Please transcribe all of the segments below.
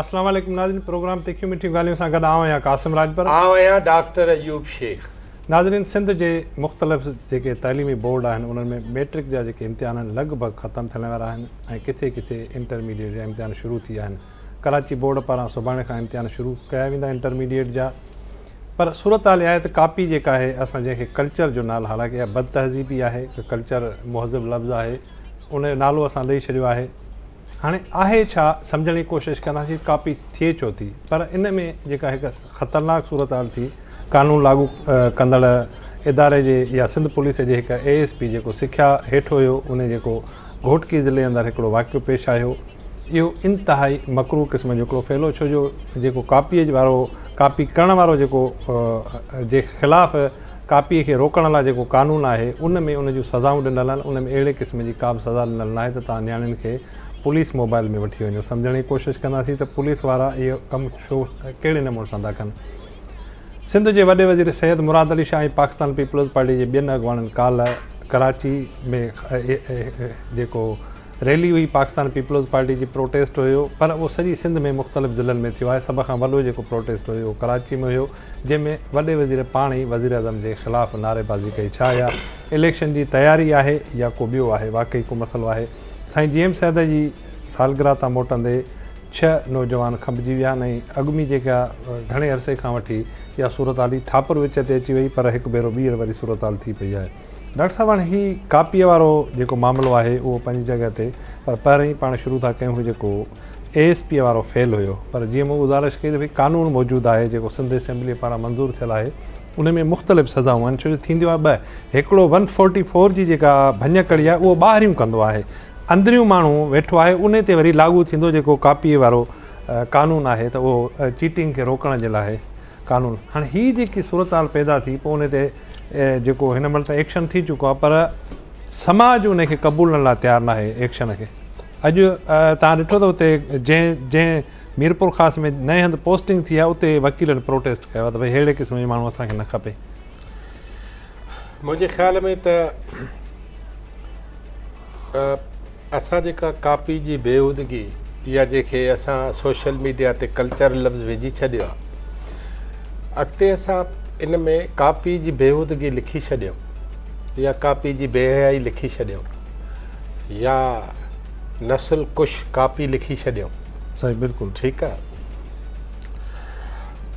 السلام عليڪم ناظرين پروگرام تکيون مٺيون ڳالهيون سان گڏ آئون آهيان قاسم راڄپر آئون آهيان ڊاڪٽر ايوب شيخ ناظرين سنڌ جي مختلف جيڪي تعليمي بورڊ آهن انهن ۾ ميٽرڪ جا جيڪي امتحان آهن لڳ ڀڳ ختم ٿيڻ وارا آهن ۽ ڪٿي ڪٿي انٽرميڊيٽ جا امتحان شروع ٿي ويا آهن ڪراچي بورڊ پاران سڀاڻي کان امتحان شروع ڪيا ويندا انٽرميڊيئيٽ جا پر صورتحال اها آهي ته ڪاپي جيڪا آهي اسان جنهن کي ڪلچر جو نال حالانڪه اها بد تهذيبي آهي ته ڪلچر مهذب لفظ آهي ان جو نالو اسان ڏئي ڇڏيو آهي هاڻي آهي ڇا سمجهڻ جي ڪوشش ڪنداسين ڪاپي ٿئي ڇو ٿي پر ان ۾ جيڪا هڪ خطرناڪ صورتحال ٿي قانون لاڳو ڪندڙ اداري جي يا سنڌ پوليس جي هڪ اي ايس پي جيڪو سکيا هيٺ هيو ان جيڪو گهوٽڪي ضلعي اندر هڪڙو واقعو پيش آيو. اهو انتهائي مڪروهه قسم جو هڪڙو فعل هو ڇو جو جيڪو ڪاپيء وارو ڪاپي ڪرڻ وارو جيڪو جي خلاف ڪاپيء کي روڪڻ لاء جيڪو قانون آهي ان ۾ ان جون سزائون ڏنل آهن ان ۾ اهڙي قسم جي ڪابه سزا ڏنل ناهي ته توهان نياڻين کي پوليس موبائيل ۾ وٺي وڃو سمجهڻ جي ڪوشش ڪنداسين ته پوليس وارا اهو ڪم ڇو ڪهڙي نموني سان ٿا ڪن. سنڌ جي وڏي وزير سيد مراد علي شاهه ۽ پاڪستان پيپلز پارٽي جي ٻين اڳواڻن ڪالهه ڪراچي ۾ جيڪو ريلي هئي پاڪستان پيپلز پارٽي جي پروٽيسٽ هيو پر اهو سڄي سنڌ ۾ مختلف ضلعن ۾ ٿيو آهي سڀ کان وڏو جيڪو پروٽيسٽ هيو اهو ڪراچي ۾ هيو جنهن ۾ وڏي وزير پاڻ ئي وزيراعظم جي خلاف نعري بازي ڪئي ڇا اها اليڪشن جي تياري آهي يا ڪو ٻيو آهي واقعي ڪو مسئلو آهي سائين جي ايم سيد جي سالگرهه تان موٽندي ڇهه نوجوان کنڀجي ويا آهن ۽ اڳ ۾ جيڪا گهڻي عرصي کان وٺي اها صورتحال هئي ٿاپر وچ تي اچي وئي پر هڪ ڀيرو ٻيهر وري صورتحال ٿي پئي آهي. ڊاڪٽر صاحب هاڻي هي ڪاپيء وارو جيڪو معاملو آهي اهو پنهنجي جڳهه تي پر پهرئين پاڻ شروع ٿا ڪيون هي جيڪو اي ايس پيء وارو فعل هيو پر جيئن مون گذارش ڪئي ته ڀئي قانون موجود آهي جيڪو سنڌ اسيمبليء پاران منظور ٿيل آهي ان ۾ مختلف سزائون آهن ڇو جو ٿينديون آهن ٻه هڪڙو ون فورٽي فور جي جيڪا ڀڃڪڙي آهي اهو ٻاهريون ڪندو آهي اندريون ماڻهو ويٺو آهي انهي تي وري لاڳو ٿيندو جيڪو ڪاپي وارو قانون آهي ته اهو چيٽنگ کي روڪڻ جي لاء قانون هاڻي هي جيڪي صورتحال پيدا ٿي پوء ان تي جيڪو هن مهل ته ايڪشن ٿي چڪو آهي پر سماج ان کي قبولڻ لاء تيار ناهي ايڪشن کي اڄ تان ڏٺو اٿو اتي جنهن جنهن ميرپورخاص ۾ نئين هنڌ پوسٽنگ ٿي آهي اتي وڪيلن پروٽيسٽ ڪيو آهي ته ڀئي ههڙي قسم جو ماڻهو اسان کي نه کپي. منهنجي خيال ۾ ته اسان جيڪا ڪاپي جي بيهودگي يا جنهن کي اسان سوشل ميڊيا تي ڪلچر لفظ وجهي ڇڏيو آهي اڳتي اسان ان ۾ ڪاپي جي بيهودگي لکي ڇڏيو يا ڪاپي جي بي حيائي لکي ڇڏيو يا نسل ڪش ڪاپي لکي ڇڏيو سائين بلڪل ٺيڪ آ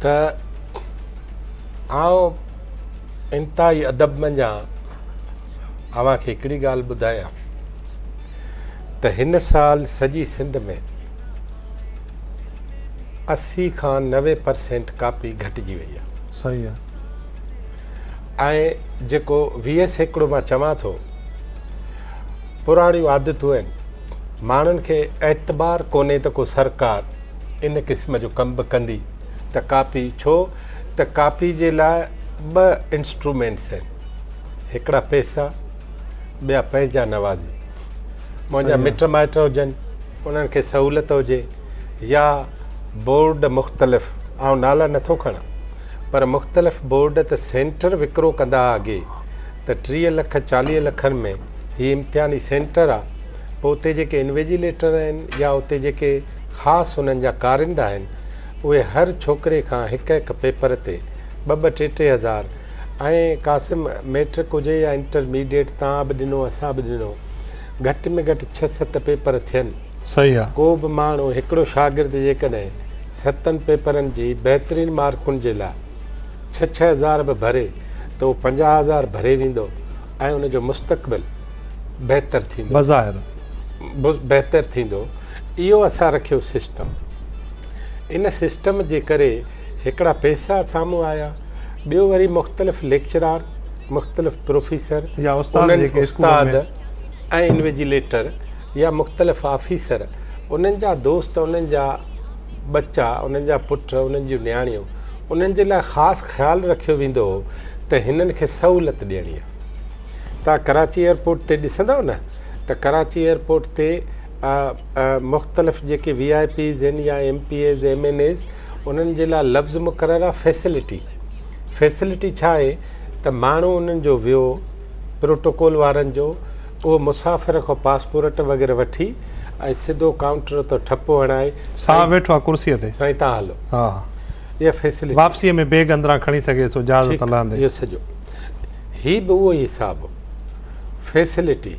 ته آئون انتهائي ادب منجهان اوهان کي هڪڙي ڳالهه ٻڌايان ته هن سال سڄي سنڌ ۾ اسي کان نوي پرسينٽ ڪاپي گهٽجي وئي آ صحيح آ ۽ جيڪو ويهه سيڪڙو مان چوان ٿو پراڻيون عادتون آهن، ماڻهن کي اعتبار ڪونهي ته ڪو سرڪار ان قسم جو ڪم به ڪندي ته ڪاپي ڇو ته ڪاپي جي لاء ٻه انسٽرومينٽس آهن هڪڙا پيسا ٻيا پنهنجا نوازي منهنجا مٽ مائٽ هجن انهن کي سهولت هجي يا بورڊ مختلف آئون نالا نٿو کڻان پر مختلف بورڊ ته سينٽر وڪرو ڪندا اڳي ته ٽيهه لک چاليهه لکن ۾ هي امتحاني سينٽر آ پوء اتي جيڪي انويجيليٽر آهن يا اتي جيڪي خاص انهن جا ڪارنده آهن اهي هر ڇوڪري کان هڪ هڪ پيپر تي ٻه ٻه ٽي ٽي هزار ۽ قاسم ميٽرڪ هجي يا انٽر ميڊيٽ تان به ڏنو اسان به ڏنو گهٽ ۾ گهٽ ڇهه ست پيپر ٿين. صحيح آ. ڪو به ماڻهو هڪڙو شاگرد جيڪڏهن ستن پيپرن جي بهترين مارڪن جي لاء ڇهه ڇهه هزار به ڀري ته اهو پنجاهه هزار ڀري ويندو. ۽ ان جو مستقبل بهتر ٿيندو بظاهر بهتر ٿيندو اهو اسان رکيو سسٽم ان سسٽم جي ڪري هڪڙا پئسا سامهون آيا ٻيو وري مختلف ليڪچرار مختلف پروفيسر يا استاد استاد ۽ انويجيليٽر يا مختلف آفيسر انهن جا دوست انهن جا ٻچا انهن جا پٽ انهن جون نياڻيون انهن جي لاء خاص خيال رکيو ويندو هو ته هنن کي سهولت ڏيڻي آهي. توهان ڪراچي ايئرپورٽ تي ڏسندؤ نه ته ڪراچي ايئرپورٽ تي مختلف جيڪي وي آء پيز آهن يا M P As M N As انهن جي لاء لفظ مقرر آهي فيسلٽي فيسلٽي ڇا آهي ته ماڻهو انهن جو ويو پروٽوڪول وارن جو اهو مسافر کان پاسپورٽ وغيره وٺي ۽ سڌو ڪائونٽر تان ٺپو هڻائي سائين ويٺو آهي ڪرسيء تي. سائين تان هلو. ها. اها فيسلٽي. واپسيء ۾ بيگ اندران کڻي سگهي ٿو جهاز تان لهندي. ٺيڪ اهو سڄو. هي به اهو ئي حساب. فيسلٽي.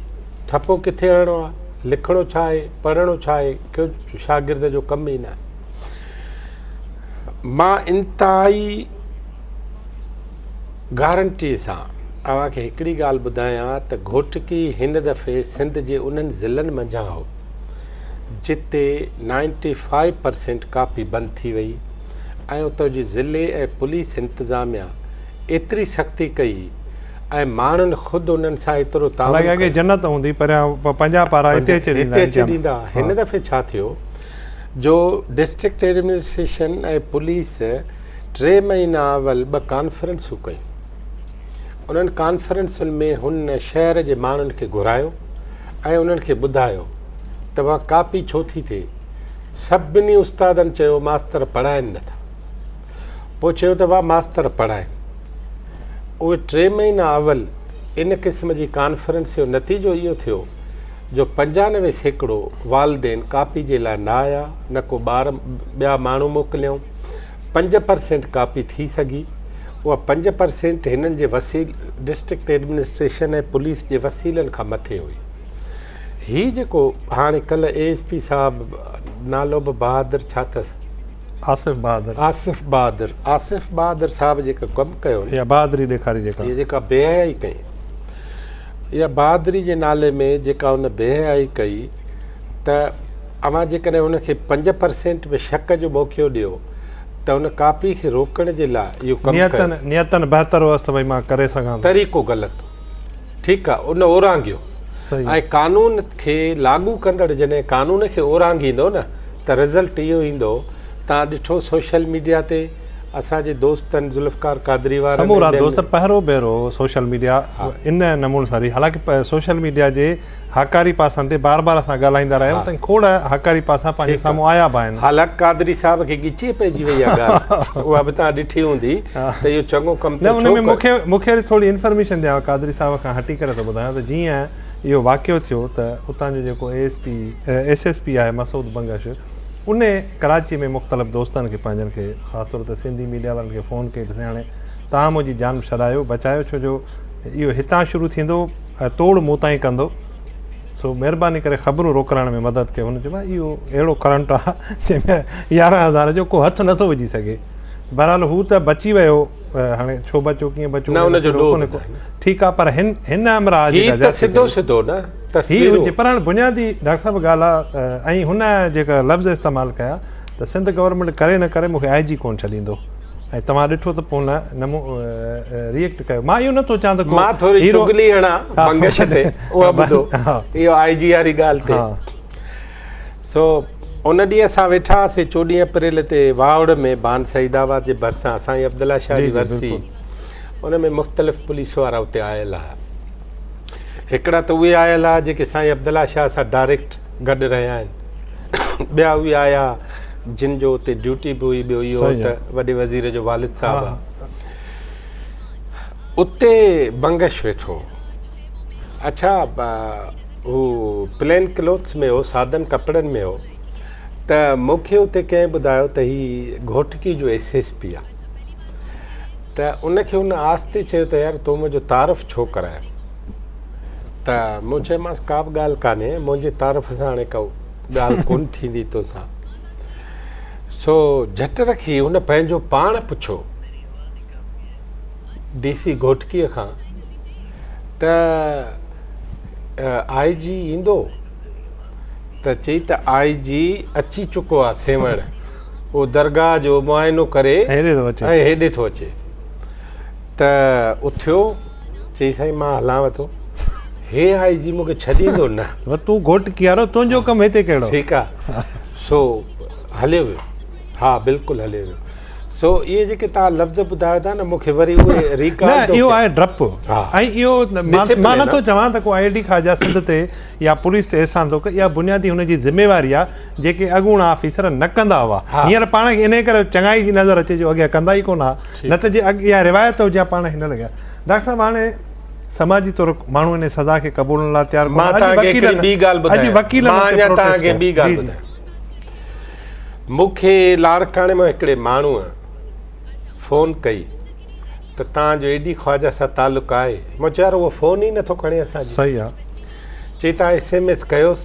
ٺپو ڪٿي هڻڻو آهي. لکڻو ڇا آهي. پڙهڻو ڇا آهي. ڪنهن شاگرد جو ڪم ئي نه آهي. مان انتهائي گارنٽي سان اوهان کي هڪڙي ڳالهه ٻڌايان ته گهوٽڪي هن دفعي سنڌ جي انهن ضلعن منجهان هو جتي نائنٽي فائيو پرسينٽ ڪاپي بند ٿي وئي ۽ اتو جي ضلعي ۽ پوليس انتظاميا ايتري سختي ڪئي ۽ ماڻهن خود انهن سان ايترو تعاون ڪيو هن دفعي ڇا ٿيو جو ڊسٽرڪٽ ايڊمنسٽريشن ۽ پوليس ٽي مهينا اول ٻه ڪانفرنسون ڪيون. انهن ڪانفرنسن ۾ هن شهر جي ماڻهن کي گهرايو ۽ انهن کي ٻڌايو ته اها ڪاپي ڇو ٿي ٿئي. سڀني استادن چيو ماستر پڙهائين نه ٿا. پوء چيو ته اها ماستر پڙهائين. اهي ٽي مهينا اول ان قسم جي ڪانفرنس جو نتيجو اهو ٿيو جو پنجانوي سيڪڙو والدين ڪاپي جي لاء نه آيا نه ڪو ٻار ٻيا ماڻهو موڪليائون. پنج پرسينٽ ڪاپي ٿي سگهي. اها پنج پرسينٽ هنن جي ڊسٽرڪٽ ايڊمنسٽريشن ۽ پوليس جي وسيلن کان مٿي هئي. هي جيڪو هاڻي ڪلهه اي ايس پي صاحب نالو به بهادر ڇا اٿس؟ آصف بهادر. آصف بهادر. آصف بهادر صاحب جيڪو ڪم ڪيو نه. اها بهادري ڏيکاري جيڪا. هي جيڪا بي حيائي ڪئي. اها بهادري جي نالي ۾ جيڪا هن بي حيائي ڪئي ته. اوهان جيڪڏهن ان کي پنج پرسينٽ به شڪ جو موقعو ڏيو ته ان ڪاپي کي روڪڻ جي لاء اهو ڪم ڪيو. نيتن بهتر هئس ته ڀئي مان ڪري سگهان ٿو. طريقو غلط هو. ٺيڪ آهي ان اورانگهيو ۽ قانون کي لاڳو ڪندڙ جڏهن قانون کي اورانگهيندو نه ته رزلٽ اهو ايندو تان ڏٺو سوشل ميڊيا تي اسان جي دوستن ذوالفقار قادري وارن ۽ ٻين. سمورا دوست پهرو ڀيرو سوشل ميڊيا ان نمون سان ري حالانڪه سوشل ميڊيا جي. هاڪاري پاسن تي بار بار اسان ڳالهائيندا رهيا آهيون ۽ کوڙ هاڪاري پاسا پنهنجي سامهون آيا به آهن. هالاڪ قادري صاحب کي ڳچيء پئجي وئي آهي ڳالهه اها به توهان ڏٺي هوندي ته اهو چڱو ڪم ٿيو ڇو ڪيو. مون کي وري ٿوري انفرميشن ڏيان قادري صاحب کان هٽي ڪري ٿو ٻڌايان ته جيئن اهو واقعو ٿيو ته اتان جو جيڪو A S P S S P آهي مسعود بنگش ان ڪراچي ۾ مختلف دوستن کي پنهنجن کي خاص طور تي سنڌي ميڊيا وارن کي فون ڪئي ته سياڻي تهان منهنجي جان ڇڏايو بچايو ڇو جو اهو هتان شروع ٿيندو توڙ مون تائين ڪندو سو مهرباني ڪري خبرون روڪرائڻ ۾ مدد ڪيو هن چيو ڀاء اهو اهڙو ڪرنٽ آهي جنهن ۾ يارهن هزار جو ڪو هٿ نٿو وجهي سگهي بهرحال هو ته بچي ويو هاڻي ڇو بچو ڪيئن بچو نه ان جو ڏوهه نه ٺيڪ آهي پر هن هن همراهه جي ته سڌو سڌو نه تصويرون هي پر هاڻي بنيادي ڊاڪٽر صاحب ڳالهه آهي ۽ هن جيڪا لفظ استعمال ڪيا ته سنڌ گورنمينٽ ڪري نه ڪري مون کي آء جي ڪونه ڇڏيندو ۽ توهان ڏٺو ته پون نه مون ريئيڪٽ ڪيو مان اهو نه ٿو چان ته مان ٿوري چغلي هڻا بنگش تي اها ٻڌو اهو آء جي واري ڳالهه تي سو ان ڏينهن اسان ويٺا هئاسي چوڏهين اپريل تي واهوڙ ۾ بان سعيد آباد جي ڀرسان سائين عبدالله شاهه جي ورسي ان ۾ مختلف پوليس وارا اتي آيل هئا هڪڙا ته اهي آيل هئا جيڪي سائين عبدالله شاهه سان ڊائريڪٽ گڏ رهيا آهن ٻيا اهي آيا جن جو اتي ڊيوٽي به هئي ٻيو اهو ته وڏي وزير جو والد صاحب آهي اتي بنگش ويٺو اڇا هو پلين کلوتس ۾ هو سادن ڪپڙن ۾ هو ته مون کي اتي ڪنهن ٻڌايو ته هي گهوٽڪي جو ايس ايس پي آهي ته ان کي ان آستي چيو ته يار تو منهنجو تعارف ڇو ڪرايو ته مون چيومانس ڪا به ڳالهه ڪانهي منهنجي تعارف سان هاڻي ڪا ڳالهه ڪونه ٿيندي توسان سو جهٽ رکي هن پنهنجو پاڻ پڇيو ڊي سي گهوٽڪي کان ته آء جي ايندو ته چي ته آء جي اچي چڪو آهي سيوهڻ اهو درگاهه جو معائنو ڪري هيڏي ٿو اچي ته اٿيو، چئي سائين مان هلانء ٿو. هي هائي جي مون کي ڇڏيندو نه. پر تون گهوٽ ڪيارو تنهنجو ڪم هتي ڪهڙو. ٺيڪ آ سو هليو ويو. ها بلڪل هليو ويو. سو اهي جيڪي توهان لفظ ٻڌايو ٿا نه مون کي وري اهي ريڪال ٿو ڪيان. نه اهو آهي ڊپ ۽ اهو مان نٿو چوان ته ڪو I A D Khawaja Sindh تي يا پوليس تي احسان ٿو ڪري اها بنيادي هن جي ذميواري آهي جيڪي اڳوڻا آفيسر نه ڪندا هئا هينئر پاڻ کي انهي ڪري چڱائي جي نظر اچي جو اڳيان ڪندا ئي ڪونه هئا نه ته جي اڳ اها روايت هجي ها پاڻ کي نه لڳي ها ڊاڪٽر صاحب هاڻي سماجي طور ماڻهو انهي سزا کي قبولڻ لاء تيار ڪونه مان توهان کي هڪڙي ٻي ڳالهه ٻڌايان اڄ وڪيلن مان اڃان توهان کي ٻي ڳالهه ٻڌايان مون کي لاڙڪاڻي مان هڪڙي ماڻهوء فون ڪئي ته تان جو ايڊي خواجه سان تعلق آهي مون چيو يار اهو فون ئي نٿو کڻي اسان جي صحيح آهي چي تان ايس ايم ايس ڪيوس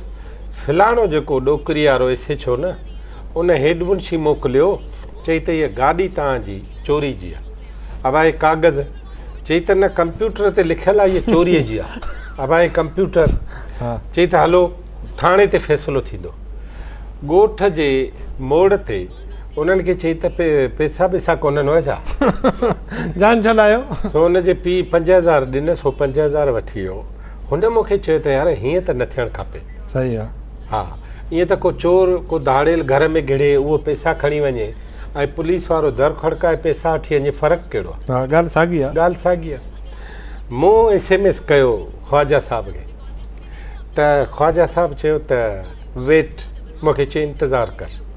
فلاڻو جيڪو ڏوڪري وارو ايس ايڇ او نه ان هيڊ منشي موڪليو چي ته هيء گاڏي تان جي چوري جي آهي ابا هي ڪاغذ چي ته نه ڪمپيوٽر تي لکيل آهي هيء چوري جي آهي ابا هي ڪمپيوٽر چي ته هلو ٿاڻي تي فيصلو ٿيندو ڳوٺ جي موڙ تي انهن کي چئي ته پئسا ٻئسا ڪونهن هئا ڇا؟ جان ڇڏايو. سو هن جي پيء پنج هزار ڏنس، هو پنج هزار وٺي ويو. هن مون کي چيو ته يار هيئن ته نه ٿيڻ کپي. صحيح آ. ها، ائين ته ڪو چور، ڪو ڌاڙيل گهر ۾ گهڙي، اهو پئسا کڻي وڃي ۽ پوليس وارو در کڙڪائي پئسا وٺي وڃي، فرق ڪهڙو آ؟ ها، ڳالهه ساڳي آ. ڳالهه ساڳي آ. مون ايس ايم ايس ڪيو خواجه صاحب کي ته خواجه صاحب چيو ته ويٽ، مون کي چيو انتظار ڪر.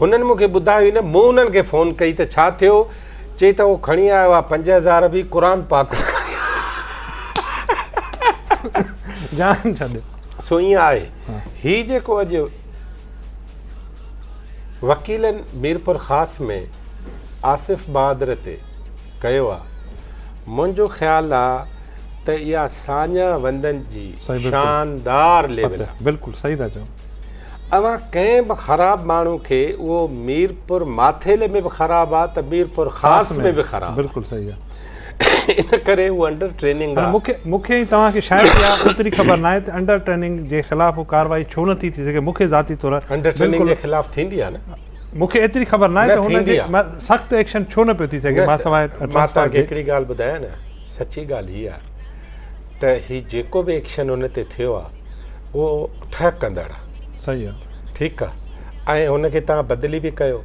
هنن مون کي ٻڌايو ئي نه، مون انهن کي فون ڪئي ته ڇا ٿيو؟ چئي ته هو کڻي آيو آهي پنج هزار به قرآن پاڪ کڻي جان ڇڏ. سو ائين آهي هي جيڪو اڄ وڪيلن ميرپورخاص ۾ آصف بهادر تي ڪيو آهي منهنجو خيال آهي ته اها ساڃاهه وندن جي شاندار ليول آهي. اوهان ڪنهن به خراب ماڻهو کي اهو ميرپور ماٿيلي ۾ به خراب آ ته ميرپور خاص ۾ به خراب بلڪل صحيح آ ان ڪري هو انڊر ٽريننگ آ مونکي مونکي ۽ توهان کي شايد اها ايتري خبر ناهي ته انڊر ٽريننگ جي خلاف هو ڪارروائي ڇو نه ٿي ٿي سگهي مونکي ذاتي طور انڊر ٽريننگ جي خلاف ٿيندي آ نه مونکي ايتري خبر ناهي ته هن جي سخت ايڪشن ڇو نه پيو ٿي سگهي مان سواء مان توهان کي هڪڙي ڳالهه ٻڌايان نه سچي ڳالهه هي آ ته هي جيڪو به ايڪشن هن تي ٿيو آهي اهو ٺهه ڪندڙ آهي صحيح آهي ٺيڪ آهي ۽ هن کي تان بدلي به ڪيو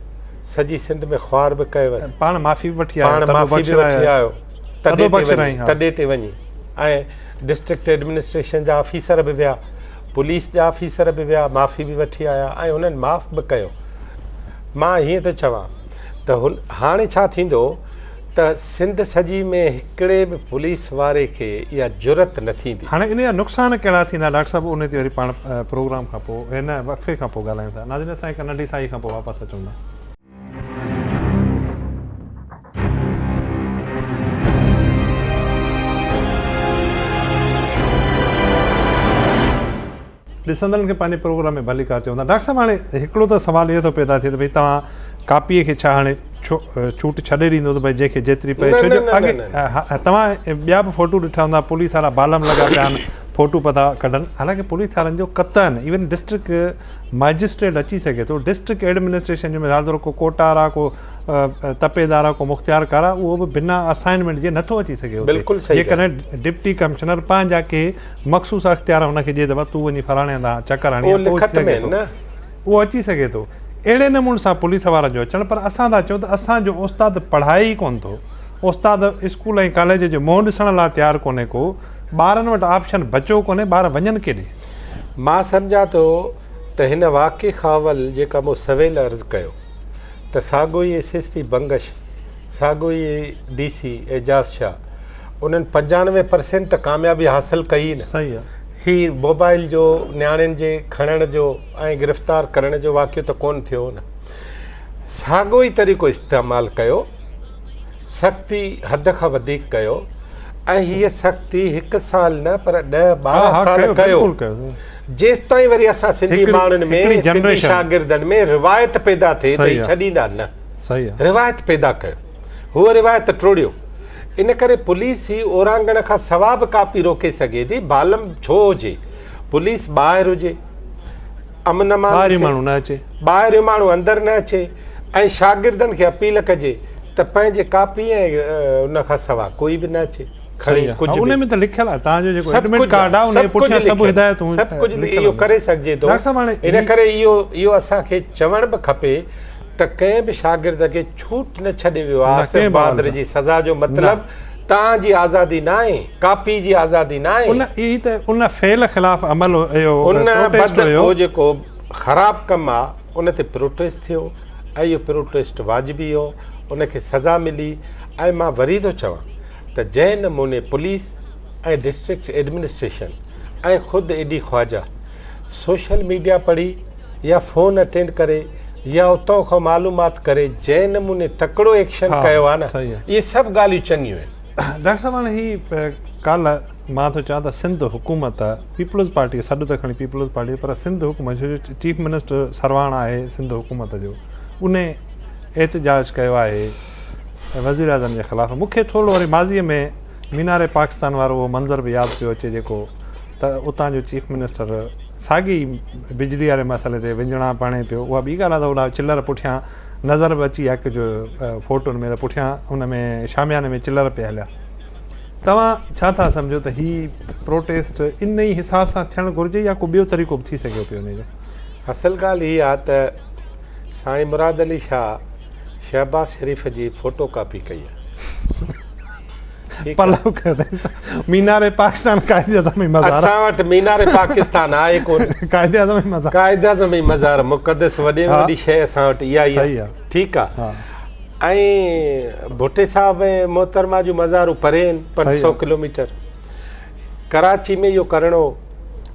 سڄي سنڌ ۾ خوار به ڪيو وس پاڻ معافي به وٺي آيو پاڻ معافي به وٺي آيو تڏي تي وڃي تڏي تي وڃي ۽ ڊسٽرڪٽ ايڊمنسٽريشن جا آفيسر به ويا پوليس جا آفيسر به ويا معافي به وٺي آيا ۽ هنن معاف به ڪيو مان هيئن ٿو چوان ته هاڻي ڇا ٿيندو ته سنڌ سڄي ۾ هڪڙي به پوليس واري کي اها جرئت نه ٿيندي. هاڻي ان جا نقصان ڪهڙا ٿيندا ڊاڪٽر صاحب ان تي وري پاڻ پروگرام کان پو هن وقفي کان پو ڳالهايون ٿا ناظرين اسان هڪ ننڍي ساهي کان پو واپس اچون ٿا. ڏسندڙن کي پنهنجي پروگرام ۾ ڀليڪار چوندا. ڊاڪٽر صاحب هاڻي هڪڙو ته سوال اهو ٿو پيدا ٿئي ته ڀئي تهان ڪاپيء کي ڇا هاڻي ڇوٽ ڇڏي ڏيندو ته ڀئي جنهن کي جيتري پئي ڇو جو اڳي توهان ٻيا به فوٽو ڏٺا هوندا پوليس وارا بالم لڳا پيا آهن فوٽو پئي ٿا ڪڍن حالانڪه پوليس وارن جو قطعا ايون ڊسٽرڪٽ مئجسٽريٽ اچي سگهي ٿو ڊسٽرڪٽ ايڊمنسٽريشن جو مثال طور ڪو ڪوٽار آهي ڪو تپيدار آهي ڪو مختيارڪار آهي اهو به بنا اسائنمينٽ جي نٿو اچي سگهي اتي جيڪڏهن ڊپٽي ڪمشنر پنهنجا ڪي مخصوص اختيار هن کي ڏئي ته بس تون وڃي فلاڻي هنڌ چڪر هڻي اچ، اهو اچي سگهي ٿو. اهڙي نموني سان پوليس وارن جو اچڻ پر اسان ٿا چئون ته اسان جو استاد پڙهائي ئي ڪونه ٿو. استاد اسڪول ۽ ڪاليج جو منهن ڏسڻ لاء تيار ڪونهي ڪو. ٻارن وٽ آپشن بچو ڪونهي، ٻار وڃن ڪيڏي؟ مان سمجهان ٿو ته هن واقعي کان اول جيڪا مون سويل عرض ڪيو ته ساڳو ئي ايس ايس پي بنگش، ساڳيو ئي ڊي سي اعجاز شاهه انهن پنجانوي پرسينٽ ته ڪاميابي حاصل ڪئي ئي نه هي موبائل جو نياڻين جي کڻڻ جو ۽ گرفتار ڪرڻ جو واقعو ته ڪون ٿيو نه ساڳيو ئي طريقو استعمال ڪيو سختي حد کان وڌيڪ ڪيو ۽ هي سختي هڪ سال نه پر ڏهه ٻارهن سال ڪيو جيستائين وري اسان سنڌي ماڻهن ۾ سنڌي شاگردن ۾ روايت پيدا ٿئي ته هي ڇڏيندا نه روايت پيدا ڪيو، هوء روايت ٽوڙيو، ان ڪري پوليس هي اورانگهڻ کان سوا به ڪاپي روڪي سگهي ٿي، بالم ڇو هجي، پوليس ٻاهر هجي، امن امان هجي، ٻاهريون ماڻهو اندر نه اچي ۽ شاگردن کي اپيل ڪجي ته پنهنجي ڪاپي ۽ ان کان سوا ڪوئي به نه اچي. سهي آ، ان ۾ ته لکيل آ، تهان جو جيڪو ايڊمٽ ڪارڊ آ، انهيء پٺيان سڀ هدايتون لکيل آهن. سڀ ڪجهه اهو ڪري سگهجي ٿو، ان ڪري اهو اسان کي چوڻ به کپي. ته ڪنهن به شاگرد کي ڇوٽ نه ڇڏي ويو آهي، آصف بهادر جي سزا جو مطلب توهان جي آزادي ناهي، ڪاپي جي آزادي ناهي. ان ئي ته ان فعل خلاف عمل اهو پروٽيسٽ هيو. اهو جيڪو خراب ڪم آهي ان تي پروٽيسٽ ٿيو ۽ اهو پروٽيسٽ واجبي هو، ان کي سزا ملي ۽ مان وري ٿو چوان ته جنهن نموني پوليس ۽ ڊسٽرڪٽ ايڊمنسٽريشن ۽ خود A D Khawaja social media پڙهي يا فون اٽينڊ ڪري يا اتان کان معلومات ڪري جنهن نموني تڪڙو ايڪشن ڪيو آهي نه اهي سڀ ڳالهيون چڱيون آهن. ڊاڪٽر صاحب هاڻي هي ڪالهه مان ٿو چوان ته سنڌ حڪومت پيپلز پارٽي سڏ ته کڻي پيپلز پارٽي پر سنڌ حڪومت جو چيف منسٽر سرواڻ آهي سنڌ حڪومت جو ان احتجاج ڪيو آهي وزيراعظم جي خلاف مون کي ٿورو وري ماضي ۾ مينار پاڪستان وارو اهو منظر به ياد پيو اچي جيڪو ته اتان جو چيف منسٽر ساڳي بجلي واري مسئلي تي وڃڻا ڀڻي پيو اها ٻي ڳالهه آهي ته هوڏا چلر پٺيان نظر به اچي اک جو فوٽن ۾ ته پٺيان ان ۾ شامياني ۾ چلر پي هليا توهان ڇا ٿا سمجهو ته هي پروٽيسٽ ان ئي حساب سان ٿيڻ گهرجي يا ڪو ٻيو طريقو به ٿي سگهيو پيو ان جو اصل ڳالهه هي آهي ته سائين مراد علي شاهه شهباز شريف جي فوٽو ڪاپي ڪئي آهي پلو قيدي مينار پاڪستان قائد اعظم جي مزار اسان وٽ مينار پاڪستان آهي ڪون قائد اعظم جي مزار قائد اعظم جي مزار مقدس وڏي ۾ وڏي شيء اسان وٽ اها ئي آهي ٺيڪ آهي ۽ ڀٽي صاحب ۽ محترمه جون مزارون پري آهن پنج سؤ ڪلوميٽر ڪراچي ۾ اهو ڪرڻو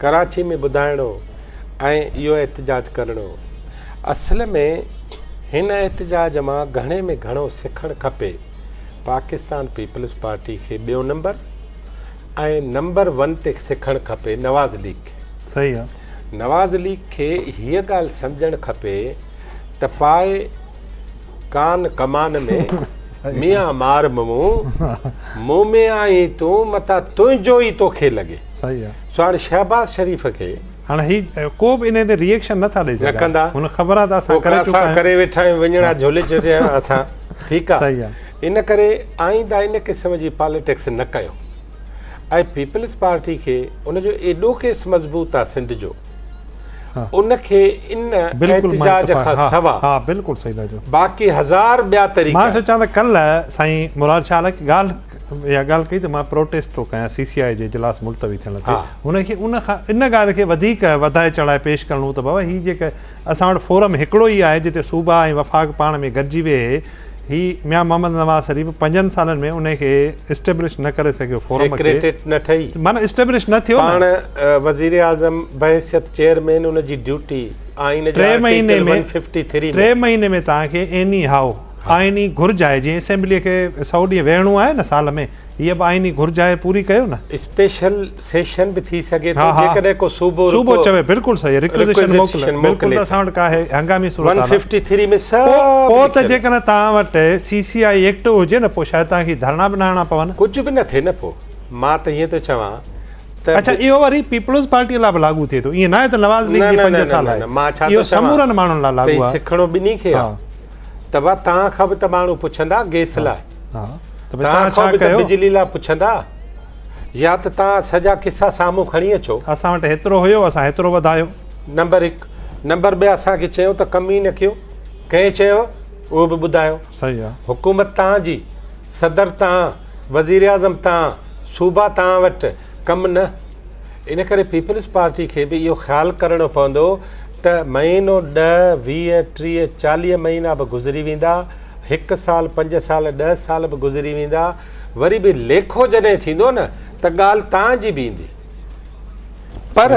ڪراچي ۾ ٻڌائڻو ۽ اهو احتجاج ڪرڻو اصل ۾ هن احتجاج مان گهڻي ۾ گهڻو سکڻ کپي پاڪستان پيپلز پارٽي کي ٻيو نمبر ۽ نمبر ون تي سکڻ کپي نواز ليگ کي صحيح آ نواز ليگ کي هيء ڳالهه سمجهڻ کپي ته پاء ڪان ڪمان ۾ ميان مار مون مون ۾ آهين تون متان تنهنجو ئي توکي لڳي صحيح آ سو هاڻي شهباز شريف کي هاڻ هي ڪو به انهي تي ريئيڪشن نه ٿا ڏئي نه ڪندا سگهن هن خبر آ ته اسان ڪري چڪا آهيون ڪري ويٺا آهيون وڃڻا جهولي چڙهيا آهيون اسان ٺيڪ آ صحيح آهي ان ڪري آئنده ان قسم جي پاليٽڪس نه ڪيو ۽ پيپلز پارٽي کي ان جو ايڏو ڪيس مضبوط آ سنڌ جو ان کي ان احتجاج کان سوا باقي هزار ٻيا طريقا آهن. اها ڳالهه ڪئي ته مان پروٽيسٽ ٿو ڪيان سي سي آء جي اجلاس ملتوي ٿيڻ تي هن کي ان کان ان ڳالهه کي وڌيڪ وڌائي چڙهائي پيش ڪرڻو هو ته بابا هي جيڪا اسان وٽ فورم هڪڙو ئي آهي جتي صوبا ۽ وفاق پاڻ ۾ گڏجي ويهي هي ميان محمد نواز شريف پنجن سالن ۾ ان کي اسٽيبلش نه ڪري سگهيو فورم کي معنيٰ اسٽيبلش نه ٿيو پاڻ وزيراعظم بحيثيت چيئرمين ان جي ڊيوٽي آئين جي آرٽيڪل 153 ٽي مهيني ۾ ٽي مهيني ۾ توهان کي ايني هائو آئيني گهرج آهي جيئن اسيمبلي کي سؤ ڏينهن ويهڻو آهي نه سال ۾ هيء به آئيني گهرج آهي پوري ڪيو نه. اسپيشل سيشن به ٿي سگهي ٿو جيڪڏهن ڪو صوبو رڪو صوبو چوي بلڪل صحيح رڪوزيشن موڪلي بلڪل اسان وٽ ڪا هي هنگامي صورت حال پوء ته جيڪڏهن توهان وٽ سي سي آئي ايڪٽ هجي نه پوء شايد توهان کي ڌرڻا به نه هڻڻا پون. ڪجهه به نه ٿئي نه پوء مان ته هيئن ٿو چوان ته. اڇا اهو وري پيپلز پارٽي لاء به لاڳو ٿئي ٿو ايئن ناهي ته نواز ليگ جي پنج سال آهي اهو سمورن ماڻهن لاء لاڳو آهي. سکڻو ٻنهي کي آهي. ته ڀا توهان کان به ته ماڻهو پڇندا گيس لاء توهان کان به ته بجلي لاء پڇندا يا ته توهان سڄا قصا سامهون کڻي اچو اسان وٽ هيترو هيو اسان هيترو وڌايو نمبر هڪ نمبر ٻه اسان کي چيو ته ڪم ئي نه ڪيو ڪنهن چيو اهو به ٻڌايو صحيح آ حڪومت توهان جي صدر توهان وزيراعظم توهان صوبا توهان وٽ ڪم نه ان ڪري پيپلز پارٽي کي به اهو خيال ڪرڻو پوندو ته مهينو ڏهه، ويهه، ٽيهه، چاليهه مهينا به گذري ويندا، هڪ سال، پنج سال، ڏهه سال به گذري ويندا، وري به ليکو جڏهن ٿيندو نه ته ڳالهه تان جي به ايندي. پر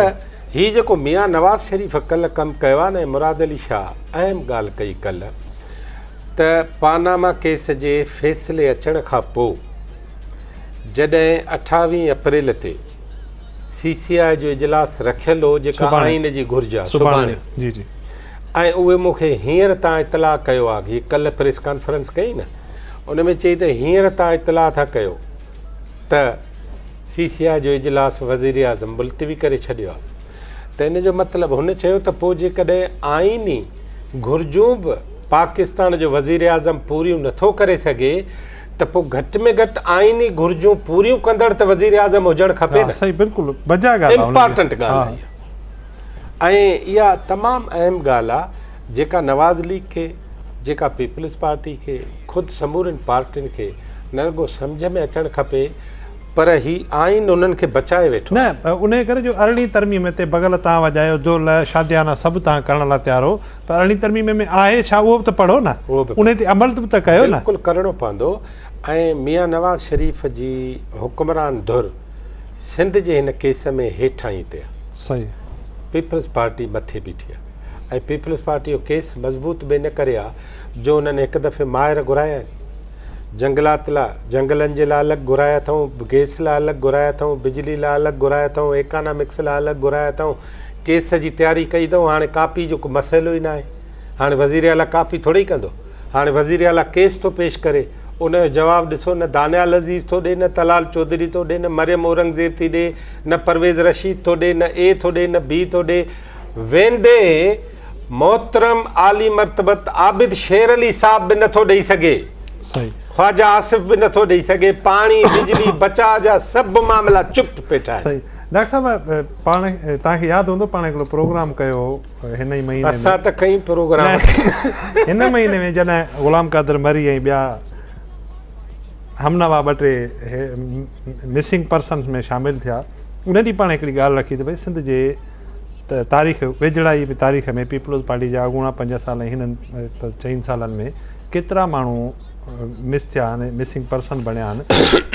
هي جيڪو ميان نواز شريف ڪلهه ڪم ڪيو آهي نه مراد علي شاهه اهم ڳالهه ڪئي ڪلهه ته پاناما ڪيس جي فيصلي اچڻ کان پوء جڏهن اٺاويهين اپريل تي سي سي آء جو اجلاس رکيل هو جيڪا آئين جي گهرج آهي سڀاڻي جي جي ۽ اهي مون کي هينئر تان اطلاع ڪيو آهي جي ڪلهه پريس ڪانفرنس ڪئي نه ان ۾ چئي ته هينئر تان اطلاع ٿا ڪيو ته سي سي آء جو اجلاس وزير اعظم ملتوي ڪري ڇڏيو آهي ته ان جو مطلب هن چيو ته پوء جيڪڏهن آئيني گهرجون به پاڪستان جو وزير اعظم پوريون نٿو ڪري سگهي ته پوء گهٽ ۾ گهٽ آئيني گهرجون پوريون ڪندڙ ته وزيراعظم هجڻ کپي نه. صحيح بلڪل بجا ڳالهه آهي. امپارٽنٽ ڳالهه آهي اها. ۽ اها تمام اهم ڳالهه آهي جيڪا نواز ليگ کي جيڪا پيپلز پارٽي کي خود سمورين پارٽين کي نه رڳو سمجهه ۾ اچڻ کپي پر هي آئين انهن کي بچائي ويٺو آهي. نه انهي ڪري جو ارڙهين ترميم تي بغل تان وڄايو جو لاء شاديانا سڀ تان ڪرڻ لاء تيار هو پر ارڙهين ترميم ۾ آهي ڇا اهو به ته پڙهو نه انهي تي عمل به ته ڪيو نه. بلڪل ڪرڻو پوندو ۽ ميان نواز شريف جي حڪمران ڌر سنڌ جي هن ڪيس ۾ هيٺاهين تي آهي پيپلز پارٽي مٿي بيٺي آهي ۽ پيپلز پارٽي جو ڪيس مضبوط به ان ڪري آهي جو انهن هڪ دفعي ماهر گهرايا آهن جنگلات لا جنگلن جي لا الڳ گهرايا اٿئون گئس لا الڳ گهرايا اٿئون بجلي لا الڳ گهرايا اٿئون ايڪانامڪس لا الڳ گهرايا اٿئون ڪيس جي تياري ڪئي اٿئون هاڻي ڪاپي جو ڪو مسئلو ئي ناهي هاڻي وزير اعليٰ ڪاپي ٿورئي ڪندو هاڻي وزير اعليٰ ڪيس ٿو پيش ڪري ان جو جواب ڏسو نه دانيال عزيز ٿو ڏي نه طلال چوڌري ٿو ڏي نه مريم اورنگزيب ٿي ڏي نه پرويز رشيد ٿو ڏي نه اي ٿو ڏي نه بي ٿو ڏي ويندي محترم عالي مرتبت عابد شير علي صاحب به نٿو ڏئي سگهي خواجه آصف به نٿو ڏئي سگهي پاڻي بجلي بچاء جا سڀ معاملا چپ پيٺا آهن ڊاڪٽر صاحب پاڻ توهان کي ياد هوندو پاڻ هڪڙو پروگرام ڪيو هو هن ئي مهيني ۾ اسان ته ڪئين پروگرام هن مهيني ۾ جڏهن غلام قادر مري ۽ ٻيا همنوا ٻه ٽي مسنگ پرسنس ۾ شامل ٿيا ان ڏينهن پاڻ هڪڙي ڳالهه رکي ته ڀائی سنڌ جي تاريخ ويجهڙائي به تاريخ ۾ پيپلز پارٽي جا اڳوڻا پنج سال ۽ هنن چئن سالن ۾ ڪيترا ماڻهو مس ٿيا آهن مسنگ پرسن بڻيا آهن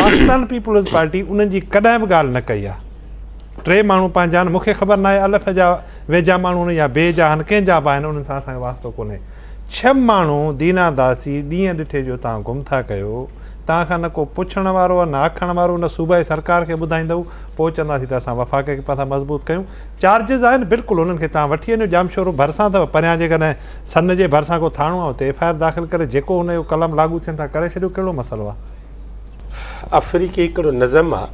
پاڪستان پيپلز پارٽي انهن جي ڪڏهن به ڳالهه نه ڪئي آهي ٽي ماڻهو پنهنجا آهن، مون کي خبر ناهي الف جا ويجها ماڻهو آهن يا بي جا آهن، ڪنهن جا به آهن، انهن سان اسان کي واسطو ڪونهي. ڇهه ماڻهو دينا داسي، ڏينهن ڏٺي جو توهان گم ٿا ڪيو، توهان کان نه ڪو پڇڻ وارو آهي، نه آکڻ وارو، نه صوبائي سرڪار کي ٻڌائيندؤ، پوء چونداسين ته اسان وفاق کي پاسا مضبوط ڪيون، چارجز آهن بلڪل انهن کي توهان وٺي وڃو، ڄامشورو ڀرسان اٿو، پريان جيڪڏهن سن جي ڀرسان ڪو ٿاڻو آهي اتي ايف آء آر داخل ڪري جيڪو ان جو قلم لاڳو ٿين ٿا ڪري ڇڏيو، ڪهڙو مسئلو آهي. آفريڪي هڪڙو نظم آ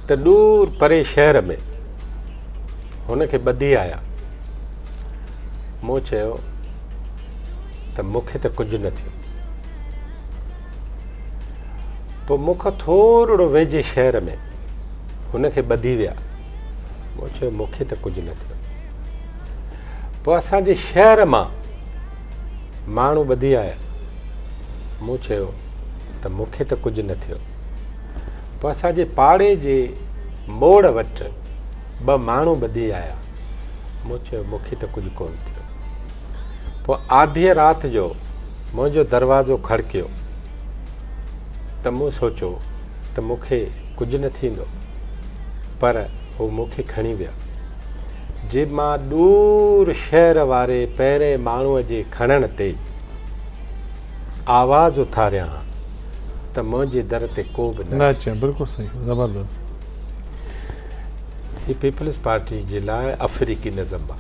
ته ڏور پري شهر ۾ هن کي ٻڌي آيا مون چيو ته مون کي ته ڪجهه نه ٿيو پوء مون کان ٿورڙو ويجهي شهر ۾ هن کي ٻڌي ويا مون چيو مون کي ته ڪجهه نه ٿيو پوء اسان جي شهر مان ماڻهو ٻڌي آيا. مون چيو ته مون کي ته ڪجهه نه ٿيو. پوء اسان جي پاڙي جي موڙ وٽ ٻه ماڻهو ٻڌي آيا. مون چيو مون کي ته ڪجهه ڪونه ٿيو. پوء آڌيء رات جو منهنجو دروازو کڙڪيو ته مون سوچيو ته مون کي ڪجهه نه ٿيندو پر هو مون کي کڻي ويا. جي مان ڏور شهر واري پهرين ماڻهوء جي کڻڻ تي آواز اٿاريان ها ته منهنجي در تي ڪو به نه اچي. بلڪل صحيح زبردست. هي پيپلز پارٽي جي لاء افريقي نظم آ.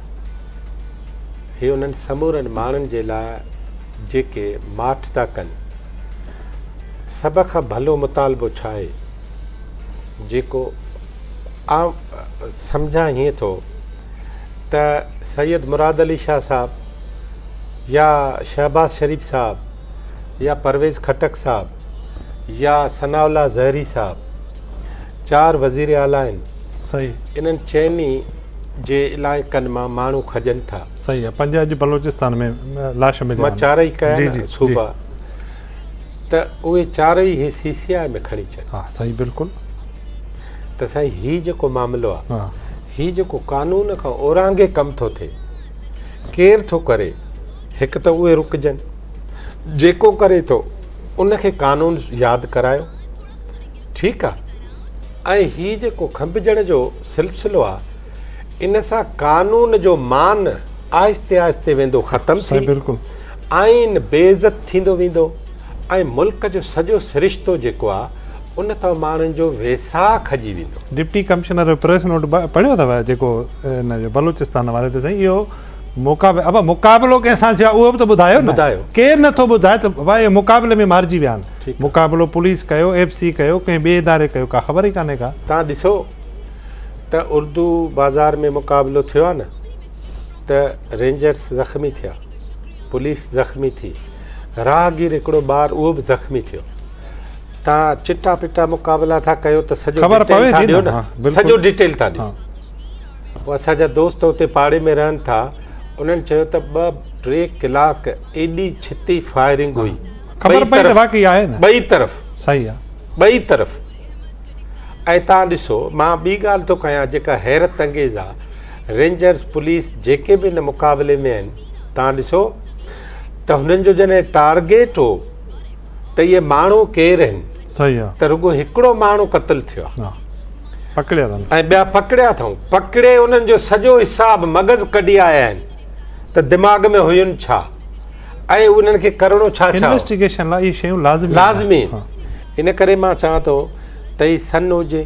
هي انهن سمورن ماڻهن جي لاء جيڪي ماٺ ٿا ڪن. سڀ کان ڀلو مطالبو ڇا آهي جيڪو آئون سمجهان هيئن ٿو ته سيد مراد علي شاهه صاحب يا شهباز شريف صاحب يا پرويز خٽڪ صاحب يا ثناء الله زهري صاحب چار وزير اعليٰ آهن صحيح انهن چئني جي علائقن مان ماڻهو کڄن ٿا صحيح آهي پنج اڄ بلوچستان ۾ لاش مليا مان چارئي ڪيا جي جي صوبا ته اهي چارئي هي سي سي آء ۾ کڻي اچن ها صحيح بلڪل ته سائين هي جيڪو معاملو آ هي جيڪو قانون کان اورانگهي ڪم ٿو ٿئي ڪير ٿو ڪري هڪ ته اهي رڪجن جيڪو ڪري ٿو ان کي قانون ياد ڪرايو ٺيڪ آ ۽ هي جيڪو کنڀجڻ جو سلسلو آ ان سان قانون جو مان آهستي آهستي ويندو ختم ٿي بلڪل آئين بي عزت ٿيندو ويندو ۽ ملڪ جو سڄو سرشتو جيڪو آ ان تان ماڻهن جو ويساهه کڄي ويندو. ڊپٽي ڪمشنر جو پريس نوٽ پڙهيو اٿو جيڪو ان جو بلوچستان حوالي ته سائين اهو مقابلو ابا مقابلو ڪنهن سان ٿيو آهي اهو به ته ٻڌايو نه ڪير نه ٿو ٻڌائي ته ابا اهي مقابلي ۾ مارجي ويا آهن مقابلو پوليس ڪيو ايف سي ڪيو ڪنهن ٻئي اداري ڪيو ڪا خبر ئي ڪانهي ڪا تان ڏسو ته اردو بازار ۾ مقابلو ٿيو آهي نه ته رينجرس زخمي ٿيا پوليس زخمي ٿي راهگير هڪڙو ٻار اهو به زخمي ٿيو توهان چٽا پٽا مقابلا ٿا ڪيو ته سڄو خبر پوي ٿي نه سڄو ڊيٽيل ٿا ڏيو پوء اسان جا دوست اتي پاڙي ۾ رهن ٿا انهن چيو ته ٻه ٽي ڪلاڪ ايڏي ڇتي فائرنگ هئي خبر پئي ته واقعي آهي نه ٻئي طرف صحيح آهي ٻئي طرف ۽ تان ڏسو مان ٻي ڳالهه ٿو ڪيان جيڪا حيرت انگيز آهي رينجرز پوليس جيڪي به ان مقابلي ۾ آهن تان ڏسو ته هنن جو جڏهن ٽارگيٽ هو ته اهي ماڻهو ڪير آهن؟ صحيح آ. ته رڳو هڪڙو ماڻهو قتل ٿيو آ. ها پڪڙيا اٿن. ۽ ٻيا پڪڙيا اٿئون. پڪڙي انهن جو سڄو حساب مغز ڪڍي آيا آهن ته دماغ ۾ هين ڇا ۽ انهن کي ڪرڻو ڇا ڇا هو. انويسٽيگيشن لاء اهي شيون لازمي آهن. لازمي آهن. ان ڪري مان چوان ٿو ته هي سن هجي،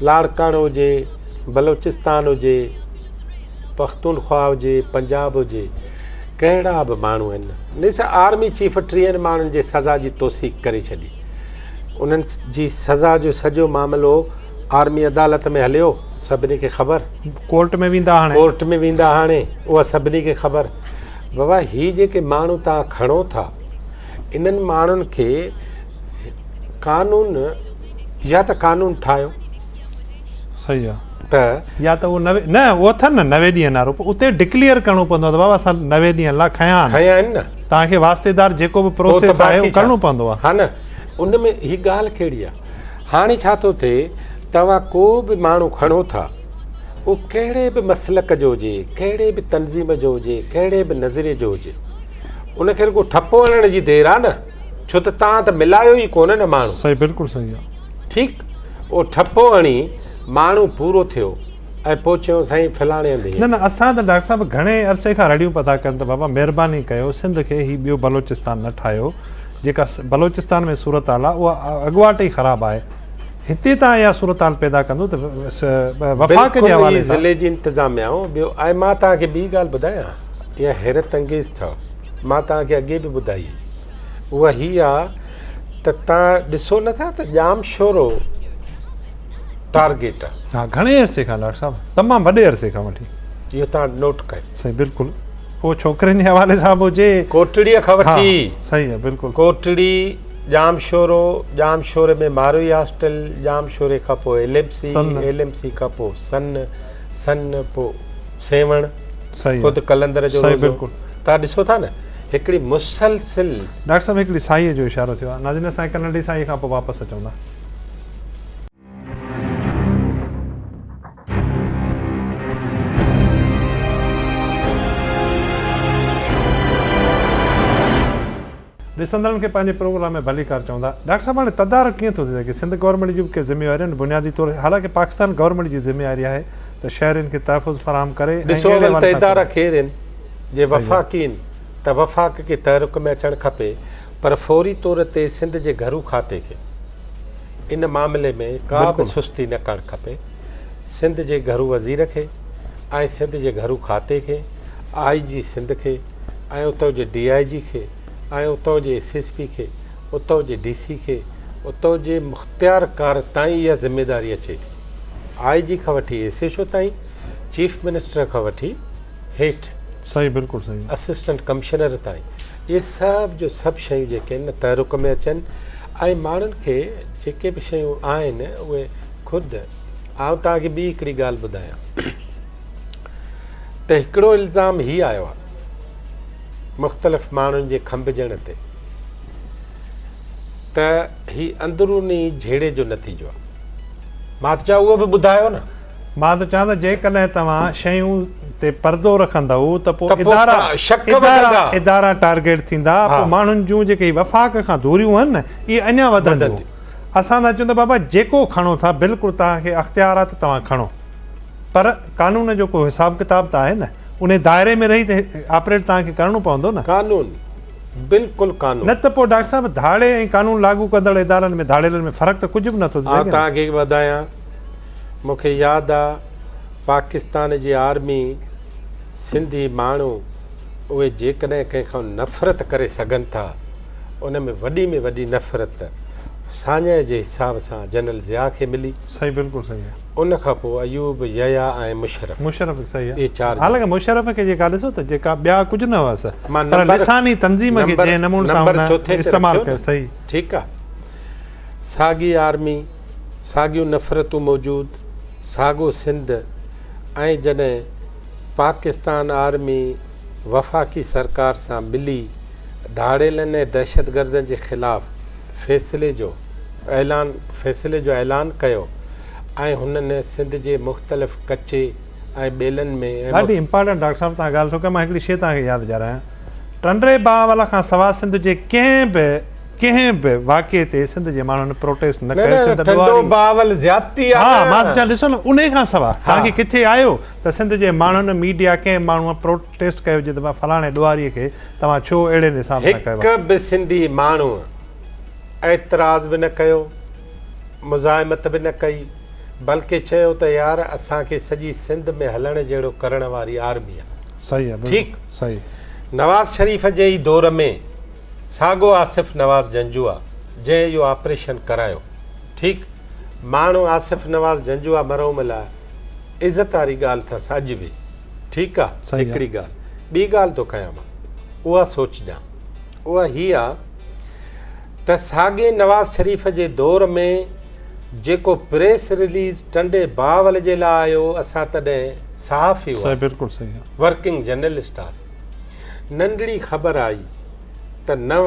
لاڙڪاڻو هجي، بلوچستان هجي، پختونخوا هجي، پنجاب هجي، ڪهڙا به ماڻهو هن نيس آرمي چيف ٽيهن ماڻهن جي سزا جي توثيق ڪري ڇڏي انهن جي سزا جو سڄو معاملو آرمي عدالت ۾ هليو سڀني کي خبر ڪورٽ ۾ ويندا هاڻي ڪورٽ ۾ ويندا هاڻي اها سڀني کي خبر بابا هي جيڪي ماڻهو تان کڻو ٿا انهن ماڻهن کي قانون يا ته قانون ٺاهيو صحيح آ. ته يا ته اهو نه نه اهو اٿن نه نوي ڏينهن نارو پوء اتي ڊڪليئر ڪرڻو پوندو آ ته بابا اسان نوي ڏينهن لا کنيا آهن کنيا آهن نه توهان کي واسطي دار جيڪو به پروسيس آهي اهو ڪرڻو پوندو آ ها نه ان ۾ هي ڳالهه ڪهڙي آ هاڻي ڇا ٿو ٿئي توهان ڪو به ماڻهو کڻو ٿا اهو ڪهڙي به مسلڪ جو هجي ڪهڙي به تنظيم جو هجي ڪهڙي به نظريي جو هجي ان کي رڳو ٺپو هڻڻ جي دير آ نه ڇو ته توهان ته ملايو ئي ڪونه نه ماڻهو صحيح بلڪل صحيح آ ٺيڪ اهو ٺپو هڻي ماڻهو پورو ٿيو ۽ پوء چيو سائين فلاڻي هنڌ هيء. نه نه اسان ته ڊاڪٽر صاحب گهڻي عرصي کان رڙيون پيا ٿا ڪن ته بابا مهرباني ڪيو سنڌ کي هي ٻيو بلوچستان نه ٺاهيو جيڪا بلوچستان ۾ صورتحال آهي اها اڳواٽ ئي خراب آهي هتي تان اها صورتحال پيدا ڪندو ته وفاق جي حوالي سان ضلعي جي انتظاميا ٻيو ۽ مان توهان کي ٻي ڳالهه ٻڌايان اها حيرت انگيز اٿو مان توهان کي اڳي به ٻڌائي اها هي آ ته توهان ڏسو نٿا ته ڄام شورو ٽارگيٽ آ ها گهڻي عرصي کان ڊاڪٽر صاحب تمام وڏي عرصي کان وٺي اهو توهان نوٽ ڪيو صحيح بلڪل اهو ڇوڪرين جي حوالي سان به هجي ڪوٽڙي کان وٺي صحيح آ بلڪل Kotri Jamshoro Jamshoro ۾ Marvi hostel Jam شوري کان پوء L M C L M C کان پوء سن سن پوء سيوهڻ، خود قلندر جو روزو توهان ڏسو ٿا نه هڪڙي مسلسل. ڊاڪٽر صاحب هڪڙي ساهيء جو اشارو ٿيو آهي ناظرين اسان هڪ ننڍي ساهيء کان پوء واپس اچون ٿا. ڏسندڙن کي پنهنجي پروگرام ۾ ڀليڪار چوندا. ڊاڪٽر صاحب هاڻي تدارڪ ڪيئن ٿو ٿي سگهي سنڌ گورنمينٽ جون به ڪي ذميواريون آهن بنيادي طور حالانڪه پاڪستان گورنمينٽ جي ذميواري آهي ته شهرين کي تحفظ فراهم ڪري ۽ ڏسو اهڙي اول ته وانسان ادارا ڪري. ڪير آهن جي صحيح آهي. وفاقي آهن ته وفاق کي تحرڪ ۾ اچڻ کپي پر فوري طور تي سنڌ جي گهرو کاتي کي ان معاملي ۾ ڪا به بلڪل. سستي نه ڪرڻ کپي سنڌ جي گهرو وزير کي ۽ سنڌ جي گهرو کاتي کي آء جي سنڌ کي ۽ اتو جي ڊي آء جي کي ۽ اتو جي ايس ايس پي کي اتو جي ڊي سي کي اتو جي مختيار ڪار تائين اها ذميداري اچي ٿي آء جي کان وٺي ايس ايڇ او تائين چيف منسٽر کان وٺي هيٺ صحيح بلڪل صحيح اسسٽنٽ ڪمشنر تائين اهي سڀ جو سڀ شيون جيڪي آهن تحرڪ ۾ اچن ۽ ماڻهن کي جيڪي به شيون آهن اهي خود آئون توهان کي ٻي هڪڙي ڳالهه ٻڌايان ته هڪڙو الزام هي آيو آهي مختلف ماڻهن جي کنڀجڻ تي ته هي اندروني جهيڙي جو نتيجو آهي مات چا اهو به ٻڌايو نه مان ته چوان ته جيڪڏهن توهان شيون تي پردو رکندؤ ته پوء ادارا ادارا ادارا ٽارگيٽ ٿيندا پوء ماڻهن جون جيڪي وفاق کان دوريون آهن نه اهي اڃا وڌنديون اسان ٿا چون ته بابا جيڪو کڻو ٿا بلڪل توهان کي اختيار آهي ته توهان کڻو پر قانون جو ڪو حساب ڪتاب ته آهي نه. انهي دائري ۾ رهي ته آپريٽ توهان کي ڪرڻو پوندو نه. قانون بلڪل قانون. نه ته پوء ڊاڪٽر صاحب ڌاڙي ۽ قانون لاڳو ڪندڙ ادارن ۾ ڌاڙيلن ۾ فرق ته ڪجهه به نٿو ٿي سگهي نه. آء توهان کي هڪ ٻڌايان مون کي ياد آ پاڪستان جي آرمي سنڌي ماڻهو اهي جيڪڏهن ڪنهن کان نفرت ڪري سگهن ٿا ان ۾ وڏي ۾ وڏي نفرت ساڃهه جي حساب سان جنرل ضياء کي ملي. صحيح بلڪل صحيح. ان کان پوء ايوب، يحيٰ ۽ مشرف. مشرف صحيح اهي چار. حالانڪه مشرف کي جيڪا ڏسو ته جيڪا ٻيا ڪجهه نه هئس پر لساني تنظيم کي جنهن نمون سان هن استعمال ڪيو صحيح. ٺيڪ آ. ساڳي آرمي، ساڳيون نفرتون موجود، ساڳو سنڌ ۽ جڏهن پاڪستان آرمي وفاقي سرڪار سان ملي ڌاڙيلن ۽ دهشتگردن جي خلاف فيصلي جو اعلان فيصلي جو اعلان ڪيو ۽ هنن سنڌ جي مختلف ڪچي ۽ ٻيلن ۾ ۽ ڏاڍي امپارٽنٽ ڊاڪٽر صاحب تهان ڳالهه ٿو ڪيو مان هڪڙي شي تهان کي ياد ڏياريان ٽنڊي باهوال کان سوا سنڌ جي ڪنهن به ڪنهن به واقعي تي سنڌ جي ماڻهن پروٽيسٽ نه ڪيو چند ٽنڊو باهوال زيادتي آهي ها مان چان ڏسو نه انهي کان سوا تهان کي ڪٿي آيو ته سنڌ جي ماڻهن ميڊيا ڪنهن ماڻهو پروٽ ٽيسٽ ڪيو جي ته مان فلاڻي ڏوهاري کي توهان ڇو اهڙي نصاب سان ڪيو. هڪ به سنڌي ماڻهوء اعتراض به نه ڪيو، مزاحمت به نه ڪئي، بلڪه چيو ته يار اسان کي سڄي سنڌ ۾ هلڻ جهڙو ڪرڻ واري آرمي آهي. صحيح آهي ٺيڪ بلڪل صحيح. نواز شريف جي ئي دور ۾ ساڳو آصف نواز جنجوعا جنهن اهو آپريشن ڪرايو ٺيڪ ماڻهو آصف نواز جنجوعا مرحوم لاء عزت واري ڳالهه اٿس اڄ به. ٺيڪ آ هڪڙي ڳالهه ٻي ڳالهه ٿو ڪيان مان اها سوچجان اها هي آ ته ساڳي نواز شريف جي دور ۾ جيڪو پريس رليز ٽنڊي باول جي لا آيو اسان تڏهن صحافي هئا بلڪل صحيح آ ورڪنگ جرنلسٽ آ ننڍڙي خبر آئي ته نو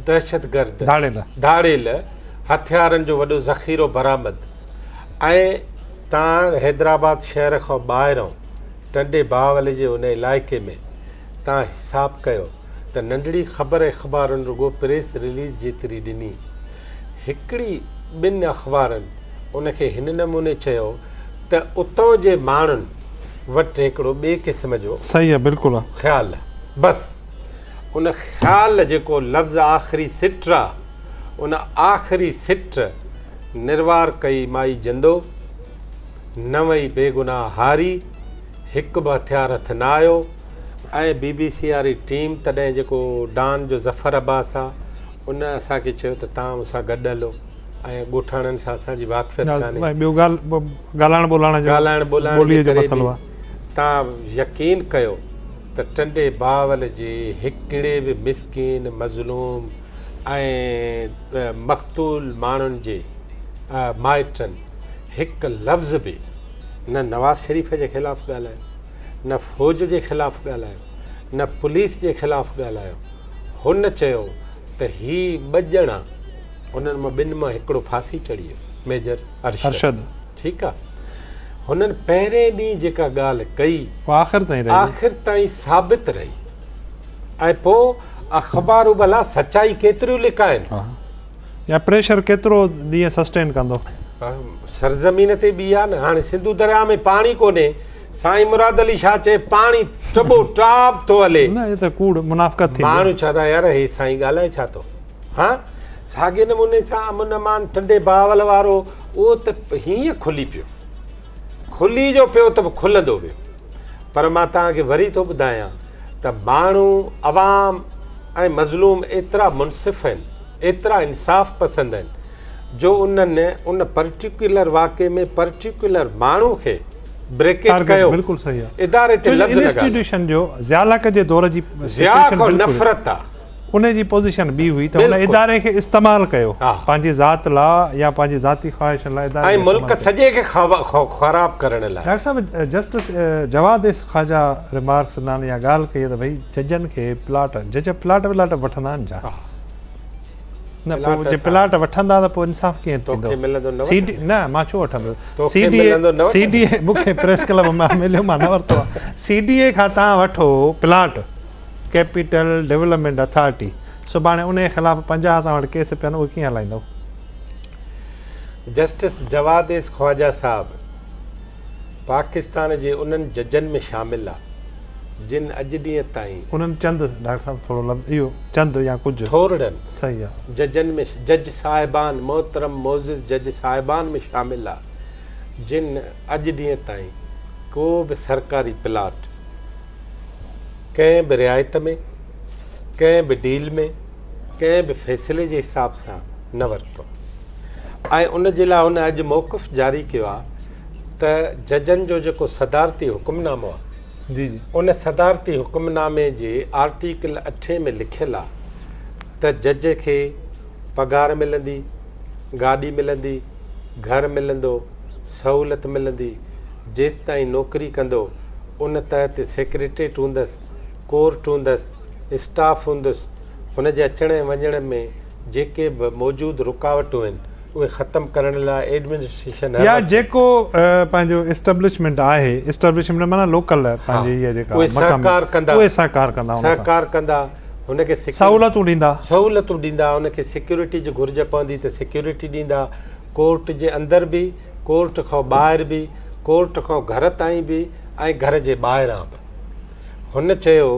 دهشتگرد ڌاڙيل ڌاڙيل هٿيارن جو وڏو ذخيرو برآمد ۽ تان حيدرآباد شهر کان ٻاهران ٽنڊي باولي جي ان علائقي ۾ تان حساب ڪيو ته ننڍڙي خبر اخبارن رڳو پريس رليز جيتري ڏني هڪڙي ٻن اخبارن ان کي هن نموني چيو ته اتان جي ماڻهن وٽ هڪڙو ٻئي قسم جو خيال بس ان خيال جيڪو لفظ آخري سٽ را ان آخري سٽ نروار ڪئي مائي جندو، نه وئي بيگناهه هاري، هڪ به هٿيار هٿ نه آيو ۽ بي بي سي واري ٽيم تڏهن جيڪو ڊان جو ظفر عباس آ ان اسان کي چيو ته توهان مون سان گڏ هلو ۽ ڳوٺاڻن سان اسان جي واقفيت ڪانهي ۽ ٻيو ڳالهائڻ ٻولهائڻ جو ڳالهائڻ ٻولهائڻ جي ڪري به توهان يقين ڪيو ته ٽنڊي باول جي هڪڙي به مسڪين مظلوم ۽ مقتول ماڻهن جي مائٽن هڪ لفظ به نه نواز شريف جي خلاف ڳالهايو، نه فوج جي خلاف ڳالهايو، نه پوليس جي خلاف ڳالهايو. هن چيو ته هي ٻه ڄڻا انهن مان ٻن مان هڪڙو ڦاسي چڙهي ويو، ميجر ارشد، ٺيڪ آهي. هنن پهرين ڏينهن جيڪا ڳالهه ڪئي، آخر تائين ثابت رهي. ۽ پوء اخبارون ڀلا سچائي ڪيتريون لڪائين؟ يا پريشر ڪيترو ڏينهن سسٽين ڪندو؟ سرزمين تي ٻي آ نه هاڻي سنڌو درياء ۾ پاڻي ڪونهي سائين مراد علي شاهه چئي پاڻي ٽٻو ٽاب ٿو هلي نه هي ته ڪوڙ منافقت ٿيندي ماڻهو ڇا ٿا يار هي سائين ڳالهائي ڇا ٿو ها ساڳي نموني سان امن امان ٽنڊي باول وارو اهو ته هيئن کلي پيو کلي جو پيو ته به کلندو ويو پر مان توهان کي وري ٿو ٻڌايان ته ماڻهو عوام ۽ مظلوم ايترا منصف آهن ايترا انصاف پسند آهن جو انهن ان پرٽيڪيولر واقعي ۾ پرٽيڪيولر ماڻهو کي بريڪيٽ ڪيو اداري تي لفظ نه ڳالهايو ضياء کان نفرت آهي. انهي جي پوزيشن ٻي هئي ته هن اداري کي استعمال ڪيو پنهنجي ذات لا يا پنهنجي ذاتي خواهشن لا اداري کي استعمال ڪيو ۽ ملڪ سڄي کي خراب ڪرڻ لا. ڊاڪٽر صاحب justice Jawad S Khawaja remarks نان اها ڳالهه ڪئي ته ڀئي ججن کي پلاٽ جج پلاٽ ولاٽ به وٺندا آهن ڇا نه پو جي پلاٽ وٺندا ته پو انصاف ڪيئن ٿيندو توکي ملندو نه وٺندو نه مان ڇو وٺندس توکي ملندو نه وٺندو سي ڊي اي مون کي پريس ڪلب مان مليو مان نه ورتو آهي سي ڊي اي کان تان وٺو پلاٽ ڪيپيٽل ڊولپمينٽ اٿارٽي سڀاڻي انهي خلاف پنجاهه اسان وٽ ڪيس پيا آهن اهي ڪيئن هلائيندو. جسٽس جواديس خواجه صاحب پاڪستان جي انهن ججن ۾ شامل آ جن اڄ ڏينهن تائين. انهن چند، ڊاڪٽر صاحب ٿورو لفظ اهو چند يا ڪجهه. ٿورڙن. صحيح آ. ججن ۾ جج صاحبان محترم معزز جج صاحبان ۾ شامل آ جن اڄ ڏينهن تائين ڪو به سرڪاري پلاٽ. ڪنهن به رعايت ۾ ڪنهن به ڊيل ۾ ڪنهن به فيصلي جي حساب سان نه ورتو ۽ ان جي لاء هن اڄ موقف جاري ڪيو آهي ته ججن جو جيڪو صدارتي حڪم نامو آهي جي جي ان صدارتي حڪم نامي جي آرٽيڪل اٺين ۾ لکيل آهي ته جج کي پگهار ملندي گاڏي ملندي گهر ملندو، سهولت ملندي، جيستائين نوڪري ڪندو، ان تحت سيڪريٽريٽ هوندس، ڪورٽ هوندس، اسٽاف هوندس، هن جي اچڻ ۽ وڃڻ ۾ جيڪي به موجود رڪاوٽون آهن، اهي ختم ڪرڻ لاء ايڊمنسٽريشن هر وقت. يا جيڪو پنهنجو اسٽبلشمينٽ آهي، اسٽبلشمينٽ معنيٰ لوڪل پنهنجي هيء جيڪا مقامي، اهي سهڪار ڪندا. سهڪار ڪندا. هن کي سهولتون ڏيندا سهولتون ڏيندا هن کي سيڪيورٽي جي گهرج پوندي ته سيڪيورٽي ڏيندا ڪورٽ جي اندر به ڪورٽ کان ٻاهر به ڪورٽ کان گهر تائين به ۽ گهر جي ٻاهران به هن چيو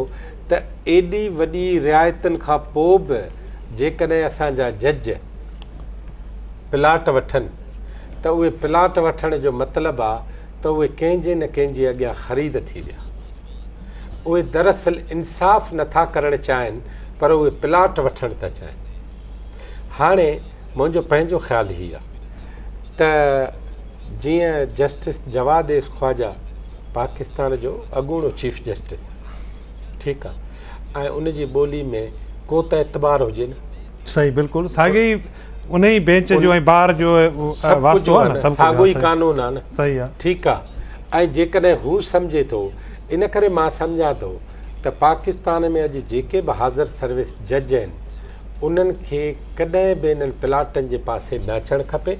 ته ايڏي وڏي رعايتن کان پوء به جيڪڏهن اسان جا جج پلاٽ وٺن ته اهي پلاٽ وٺڻ جو مطلب آهي ته اهي ڪنهن جي نه ڪنهن جي اڳيان خريد ٿي ويا اهي دراصل انصاف نه ٿا ڪرڻ چاهين پر اهي پلاٽ وٺڻ ٿا چاهين هاڻي منهنجو پنهنجو خيال هي آهي ته جيئن جسٽس جواد ايس خواجا پاڪستان جو اڳوڻو چيف جسٽس ٺيڪ آهي ۽ ان جي ٻولي ۾ ڪو ته اعتبار هجي نه صحيح بلڪل ساڳي انهي بينچ جو ۽ بار جو واسطو آهي نه. ساڳيو ئي قانون آهي نه. صحيح آهي. ٺيڪ آهي. ۽ جيڪڏهن هو سمجهي ٿو، ان ڪري مان سمجهان ٿو ته پاڪستان ۾ اڄ جيڪي به حاضر سروس جج آهن، انهن کي ڪڏهن به انهن پلاٽن جي پاسي نه اچڻ کپي.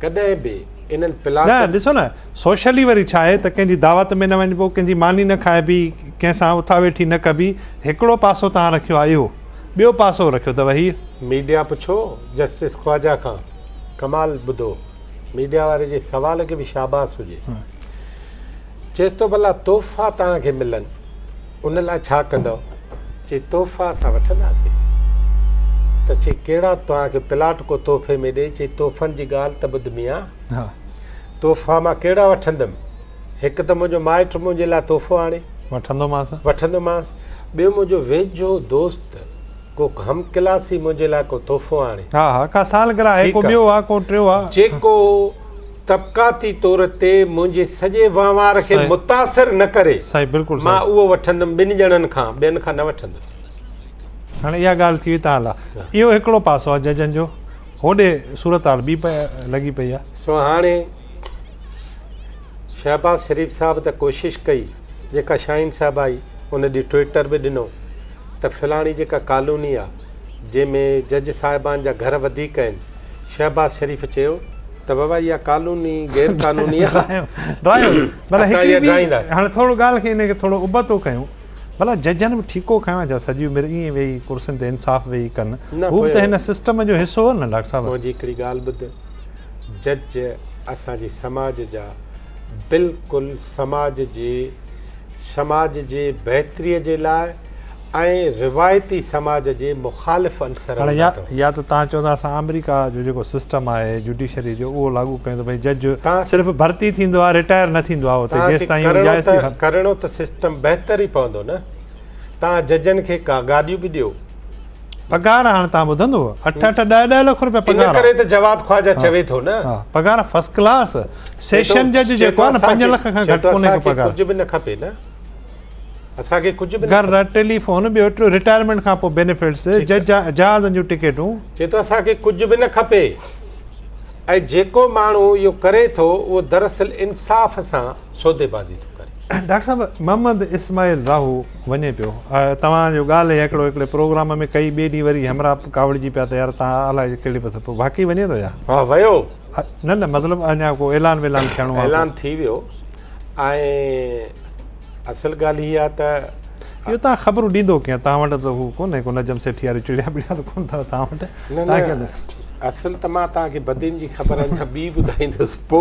ڪڏهن به انهن پلاٽن. نه ڏسو نه، سوشلي وري ڇا آهي ته ڪنهن جي دعوت ۾ نه وڃبو، ڪنهن جي ماني نه کائبي، ڪنهن سان اٿا ويٺي نه ڪبي، هڪڙو پاسو توهان رکيو آهي اهو. ٻيو پاسو رکيو ته وهي. ميڊيا پڇو جسٽس خواجه کان ڪمال ٻڌو ميڊيا واري جي سوال کي به شاباس هجي چيس ٿو ڀلا تحفا توهان کي ملن ان لاء ڇا ڪندؤ چي تحفا اسان وٺنداسين ته چي ڪهڙا توهان کي پلاٽ ڪو تحفي ۾ ڏئي چي تحفن جي ڳالهه ته ٻڌ ميان تحفا مان ڪهڙا وٺندم هڪ ته منهنجو مائٽ منهنجي لاء تحفو آڻي وٺندومانس وٺندومانس ٻيو منهنجو ويجهو دوست ڪو هم ڪلاسي منهنجي لاء ڪو تحفو آڻي ها ها ڪا سالگرهه آهي ڪو ٻيو آهي ڪو ٽيو آهي جيڪو طبقاتي طور تي منهنجي سڄي وهنوار کي متاثر نه ڪري صحيح بلڪل مان اهو وٺندم ٻن ڄڻن کان ٻين کان نه وٺندس هاڻي اها ڳالهه ٿي وئي تان لا اهو هڪڙو پاسو آهي ججن جو هوڏي صورتحال ٻي لڳي پئي آهي سو هاڻي شهباز شريف صاحب ته ڪوشش ڪئي جيڪا شاهين صاحب آئي ان ڏي ٽوئيٽر به ڏنو ته فلاڻي جيڪا ڪالوني آ جنهن ۾ جج صاحبان جا گهر وڌيڪ آهن شهباز شريف چيو ته بابا اها ڪالوني غير قانوني آ اسان اها ڊاهينداس. هاڻي ٿورو ڳالهه کي ان کي ٿورو ابتو ڪيون ڀلا ججن به ٺيڪو کنيو آ ڇا سڄي عمر ائين ويهي ڪرسين تي انصاف ويهي ڪن هو به ته هن سسٽم جو حصو هو نه ڊاڪٽر صاحب. منهنجي هڪڙي ڳالهه ٻڌ. جج اسان جي سماج جا بلڪل سماج جي سماج جي بهتري جي لاء ۽ روايتي سماج جي مخالف عنصر هاڻي يا يا ته توهان چئو ته اسان آمريڪا جو جيڪو سسٽم آهي جوڊيشري جو اهو لاڳو ڪيون ته ڀئي جج صرف ڀرتي ٿيندو آهي رٽائر نه ٿيندو آهي اتي جيستائين اهو جائز ٿي ها ڪرڻو ته سسٽم بهتر ئي پوندو نه توهان ججن کي ڪا گاڏيون به ڏيو پگهار هاڻ تان ٻڌندو اٺ اٺ ڏهه ڏهه لک روپيا پگهار ان ڪري ته جواد خواجه چوي ٿو نه پگهار فرسٽ ڪلاس سيشن جج جيڪو آ نه 5 لک کان گهٽ ڪونهي ڪو پگهار ڪجهه به نه کپي نه اسان کي ڪجهه به گهر ٽيلي فون ٻيو ٽيو ريٽائرمنٽ کان پوء بينيفٽس جج جهازن جون ٽڪيٽون چي ٿو اسان کي ڪجهه به نه کپي ۽ جيڪو ماڻهو اهو ڪري ٿو اهو دراصل انصاف سان سودي بازي ٿو ڪري. ڊاڪٽر صاحب محمد اسماعيل راهو وڃي پيو توهان جو ڳالهه هي هڪڙو هڪڙي پروگرام ۾ ڪئي ٻي ڏينهن وري همراهه ڪاوڙجي پيا ته يار تان الاء ڪهڙي پاسي پيو واقعي وڃي ٿو يا ها ويو نه نه مطلب اڃا ڪو اعلان ويلان ٿيڻو آهي اعلان ٿي ويو ۽ اصل ڳالهه هي آهي ته اهو تان خبرون ڏيندو ڪيئن تان وٽ ته هو ڪونه ڪو نجم سيٺي واري چڙيا پڙيا ته ڪونه ٿا تان وٽ نه نه اصل ته مان تان کي بدين جي خبر اڃا ٻي ٻڌائيندس پو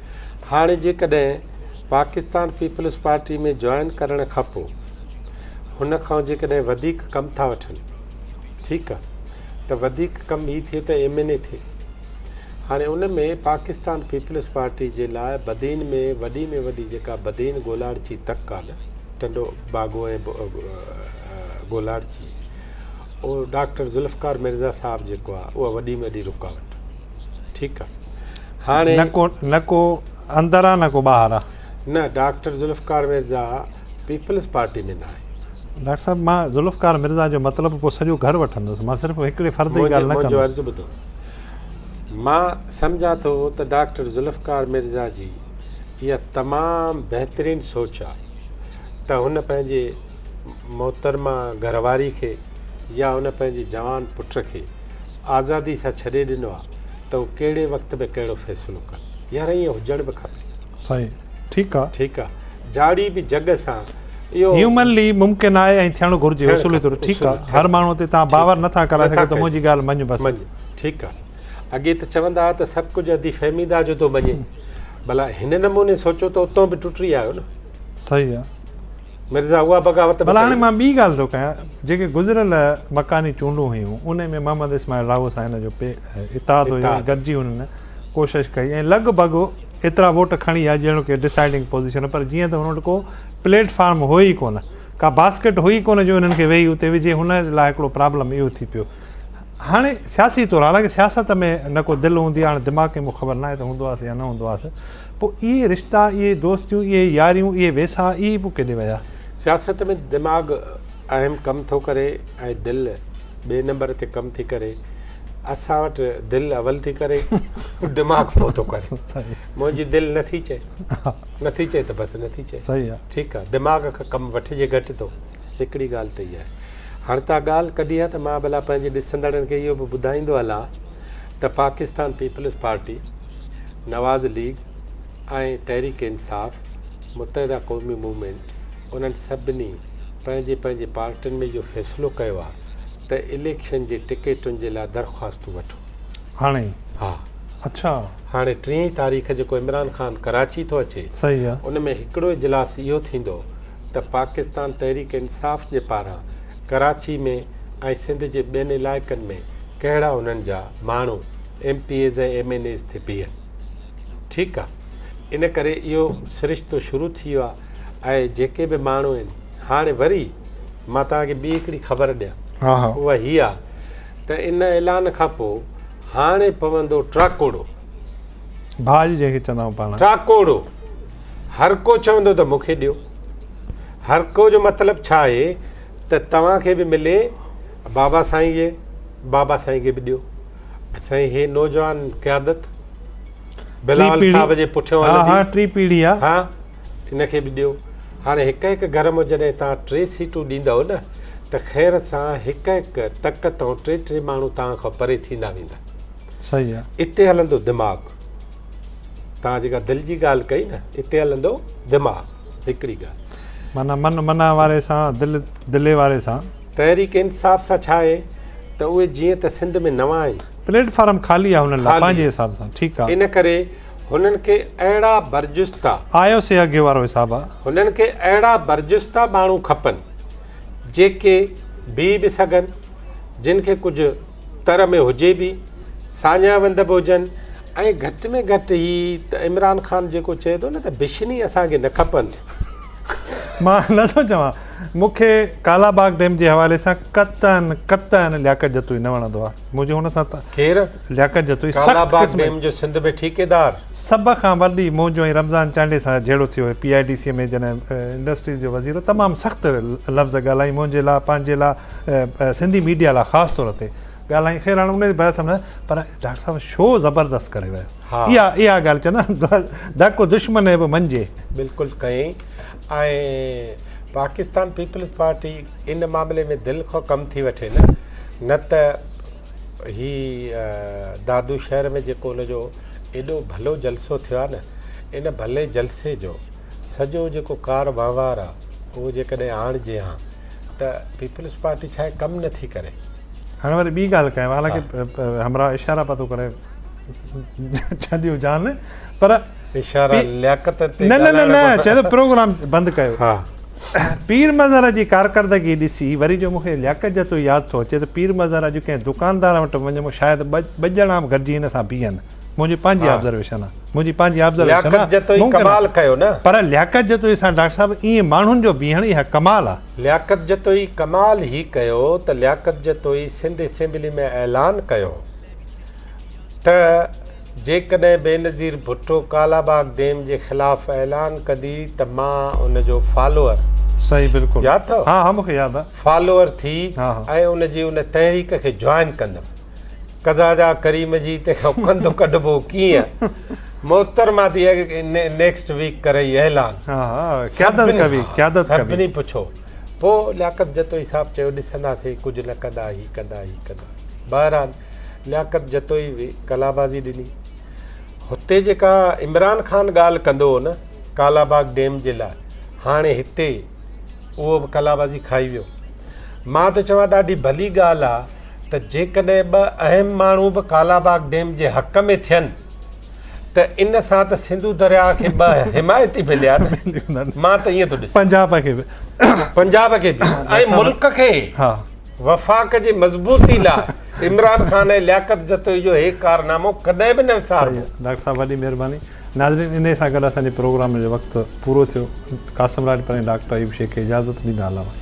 هاڻي جيڪڏهن پاڪستان پيپلز پارٽي ۾ جوائن ڪرڻ کانپو هن کان جيڪڏهن وڌيڪ ڪم ٿا وٺن ٺيڪ آ ته وڌيڪ ڪم هي ٿئي ته ايم اين اي ٿئي هاڻي ان ۾ پاڪستان پيپلز پارٽي جي لاء بدين ۾ وڏي ۾ وڏي جيڪا بدين گولاڙچي تڪ آ نه ٽنڊو باگو ۽ گولاڙچي اهو ڊاڪٽر ذوالفقار مرزا صاحب جيڪو آ اها وڏي ۾ وڏي رڪاوٽ ٺيڪ آ هاڻي نه ڪو نه ڪو اندر آ نه ڪو ٻاهر آ. نه doctor Zulfiqar Mirza peoples party ۾ ناهي. ڊاڪٽر صاحب مان ذوالفقار مرزا جو مطلب پوء سڄو گهر وٺندس مان صرف هڪڙي فرد جي ڳالهه نه ڪندس. منهنجو عرض ٻڌو مان سمجهان ٿو ته ڊاڪٽر ذوالفقار مرزا جي اها تمام بهترين سوچ آ ته هن پنهنجي محترمه گهرواري کي يا هن پنهنجي جوان پٽ کي آزادي سان ڇڏي ڏنو آ ته هو ڪهڙي وقت ۾ ڪهڙو فيصلو ڪن يار ائين هجڻ به کپي. سائين ٺيڪ آ. ٺيڪ آ جاڙي به جڳ سان اهو. هيومنلي ممڪن آهي ۽ ٿيڻ گهرجي اصولي طور ٺيڪ آ هر ماڻهو تي توهان باور نٿا ڪرائي سگهو ته منهنجي ڳالهه مڃ بس. مڃ ٺيڪ آ اڳي ته چوندا ها ته سڀ ڪجهه ادي فهمي دا جو تو مڃي ڀلا هن نموني سوچو ته اتون به ٽٽي آيو نه. صحيح آ. مرزا اها بغاوت به ڪئي. ڀلا هاڻي مان ٻي ڳالهه ٿو ڪيان، جيڪي گذريل مڪاني چونڊون هيون، ان ۾ محمد اسماعيل راهو سان هن جو پي اتحاد هيو ۽ گڏجي هنن ڪوشش ڪئي ۽ لڳ ڀڳ ايترا ووٽ کڻي آيا جهڙوڪ ڊسائيڊنگ پوزيشن، پر جيئن ته هنن وٽ ڪو پليٽ فارم هو ئي ڪونه، ڪا باسڪيٽ هئي ڪونه جو انهن کي ويهي اتي وجهي، هن لاء هڪڙو پرابلم اهو ٿي پيو. هاڻي سياسي طور، حالانڪه سياست ۾ نه ڪو دل هوندي آهي، هاڻي دماغ ڪنهن مون کي خبر ناهي ته هوندو هئس يا نه هوندو هئس، پوء اهي رشتا، اهي دوستيون، اهي ياريون، اهي ويساهه، اهي پوء ڪيڏي ويا؟ سياست ۾ دماغ اهم ڪم ٿو ڪري ۽ دل ٻئي نمبر تي ڪم ٿي ڪري. اسان وٽ دل اول ٿي ڪري، دماغ پوء ٿو ڪري. منهنجي دل نه ٿي چئي. نه ٿي چئي ته بس نه ٿي چئي. ٺيڪ آهي، دماغ کان ڪم وٺجي گهٽ ٿو. هڪڙي ڳالهه ته اها آهي. هاڻ تان ڳالهه ڪڍي آهي ته مان ڀلا پنهنجي ڏسندڙن کي اهو به ٻڌائيندو هلان. ته Pakistan peoples party, Nawaz league ۽ Tehreek Insaf, Muttahida قومي موومينٽ، انهن سڀني پنهنجي پنهنجي پارٽين ۾ اهو فيصلو ڪيو آهي ته اليڪشن جي ٽڪيٽن جي لاء درخواستون وٺو. هاڻي؟ ها. اڇا. هاڻي ٽيهين تاريخ جيڪو عمران خان ڪراچي ٿو اچي، ان ۾ هڪڙو اجلاس اهو ٿيندو، ته پاڪستان تحريڪ انصاف جي پاران ڪراچي ۾ ۽ سنڌ جي ٻين علائقن ۾ ڪهڙا انهن جا ماڻهو M P As ۽ M N As ٿي بيهن ٺيڪ آ ان ڪري اهو سرشتو شروع ٿي ويو آ ۽ جيڪي به ماڻهو آهن هاڻي وري مان توهان کي ٻي هڪڙي خبر ڏيان ها ها. اها هي آ ته ان اعلان کان پو هاڻي پوندو ٽراڪوڙو ڀاڄ جنهن کي چوندا آهيون پاڻ ٽراڪوڙو هرڪو چوندو ته مون کي ڏيو. هرڪو جو مطلب ڇا آهي ته توهان کي به ملي بابا سائين جي بابا سائين کي به ڏيو. سائين هي نوجوان قيادت بلاول صاحب جي پٺيان هلندي. ها ها ٽي پيڙهي آ. ها ان کي به ڏيو. هاڻي هڪ هڪ گهر مان جڏهن توهان ٽي سيٽون ڏيندؤ نه ته خير سان هڪ هڪ تڪ تان ٽي ٽي ماڻهو توهان کان پري ٿيندا ويندا. صحيح آ. اتي هلندو دماغ. توهان جيڪا دل جي ڳالهه ڪئي نه اتي هلندو دماغ هڪڙي ڳالهه. معنيٰ من منع واري سان دل دلي واري سان. تحريڪ انصاف سان ڇا آهي ته اهي جيئن ته سنڌ ۾ نوان آهن. پليٽ فارم خالي آهي هنن لاء پنهنجي حساب سان ٺيڪ آهي. ان ڪري هنن کي اهڙا برجستا. آيو سي اڳي وارو حساب آهي. هنن کي اهڙا برجستا ماڻهو کپن جيڪي بيهي به سگهن جن کي ڪجهه. تر ۾ هجي به، ساڃاهه وند به هجن ۽ گهٽ ۾ گهٽ هي ته عمران خان جيڪو چئي ٿو نه ته بشني اسان کي نه کپن. مان نه ٿو چوان، مون کي ڪالا باغ ڊيم جي حوالي سان قطعاً قطعاً لياقت جتوئي نه وڻندو آهي. منهنجي هن سان ته ڪير؟ لياقت جتوئي سخت قسم ڪالا باغ ڊيم جو سنڌ ۾ ٺيڪيدار. سڀ کان وڏي منهنجو ۽ رمضان چانڊيي سان جهيڙو ٿيو هيو پي آء ڊي سي ۾ جڏهن انڊسٽريز جو وزير هو تمام سخت لفظ ڳالهائين منهنجي لاء پنهنجي لاء سنڌي ميڊيا لاء خاص طور تي ڳالهائين خير هاڻي انهي بحث ۾ پر ڊاڪٽر صاحب شو زبردست ڪري ويو اها اها ڳالهه چوندا ڌڪ دشمن به منجي بلڪل ڪئين ۽ پاڪستان پيپلز پارٽي ان معاملي ۾ دل کان ڪم ٿي وٺي نه نه ته هي دادو شهر ۾ جيڪو ان جو ايڏو ڀلو جلسو ٿيو آهي نه ان ڀلي جلسي جو سڄو جيڪو ڪار وهنوار آهي اهو جيڪڏهن آڻجي هان ته پيپلز پارٽي ڇا اهي ڪم نه ٿي ڪري. هن وري ٻي ڳالهه ڪيم حالانڪه همراهه اشارا پيا ٿو ڪري ڇڏيو جان پر اشارا لياقت تي نه نه نه چي ته پروگرام بند ڪيو ها پير مظهر جي ڪارڪردگي ڏسي وري جو مونکي لياقت جتو ياد ٿو اچي ته پير مظهر اڄ ڪنهن دڪاندار وٽ وڃي مون شايد ٻه ڄڻا به گڏجي هن سان بيهن منهنجي پنهنجي آبزرويشن آ منهنجي پنهنجي آبزرويشن آ لياقت جتوئي ڪمال ڪيو نه پر لياقت جتوئي سان ڊاڪٽر صاحب ايئن ماڻهن جو بيهڻ اها ڪمال آ لياقت جتوئي ڪمال هي ڪيو ته لياقت جتوئي سنڌ اسيمبلي ۾ اعلان ڪيو ته جيڪڏهن بينظير ڀٽو ڪالا باغ ڊيم جي خلاف اعلان ڪندي ته مان ان جو فالوئر صحيح بلڪل ياد اٿئو ها ها مونکي ياد آ فالوئر ٿي ۽ ان جي ان تحريڪ کي جوائن ڪندم قضا جا ڪريم جي تنهن کان ڪندو ڪڍبو ڪيئن محترمه تي نيڪسٽ ويڪ ڪرئي اعلان قيادت ڪبي قيادت ڪبي سڀني پڇو پو لياقت جتوئي صاحب چيو ڏسنداسي ڪجهه نه ڪندا هي ڪندا هي ڪندا بهرحال لياقت جتوئي به ڪلابازي ڏني هتي جيڪا عمران خان ڳالهه ڪندو هو نه ڪالاباغ ڊيم جي لاء هاڻي هتي اهو به ڪلابازي کائي ويو مان ته چوان ڏاڍي ڀلي ڳالهه آ ته جيڪڏهن ٻه اهم ماڻهو به ڪالاباغ ڊيم جي حق ۾ ٿين ته ان سان ته سنڌو درياء کي ٻه حمايتي مليا نه مان ته ائين ٿو ڏسان پنجاب کي به پنجاب کي به ۽ ملڪ کي ها وفاق جي مضبوطي لاء عمران خان ۽ لياقت جتوئي جو هي ڪارنامو ڪڏهن به نه وساربو. ڊاڪٽر صاحب وڏي مهرباني ناظرين انهي سان گڏ اسان جي پروگرام جو وقت پورو ٿيو قاسم راڄپر ۽ ڊاڪٽر ايوب شيخ کي اجازت ڏيندا الله حافظ.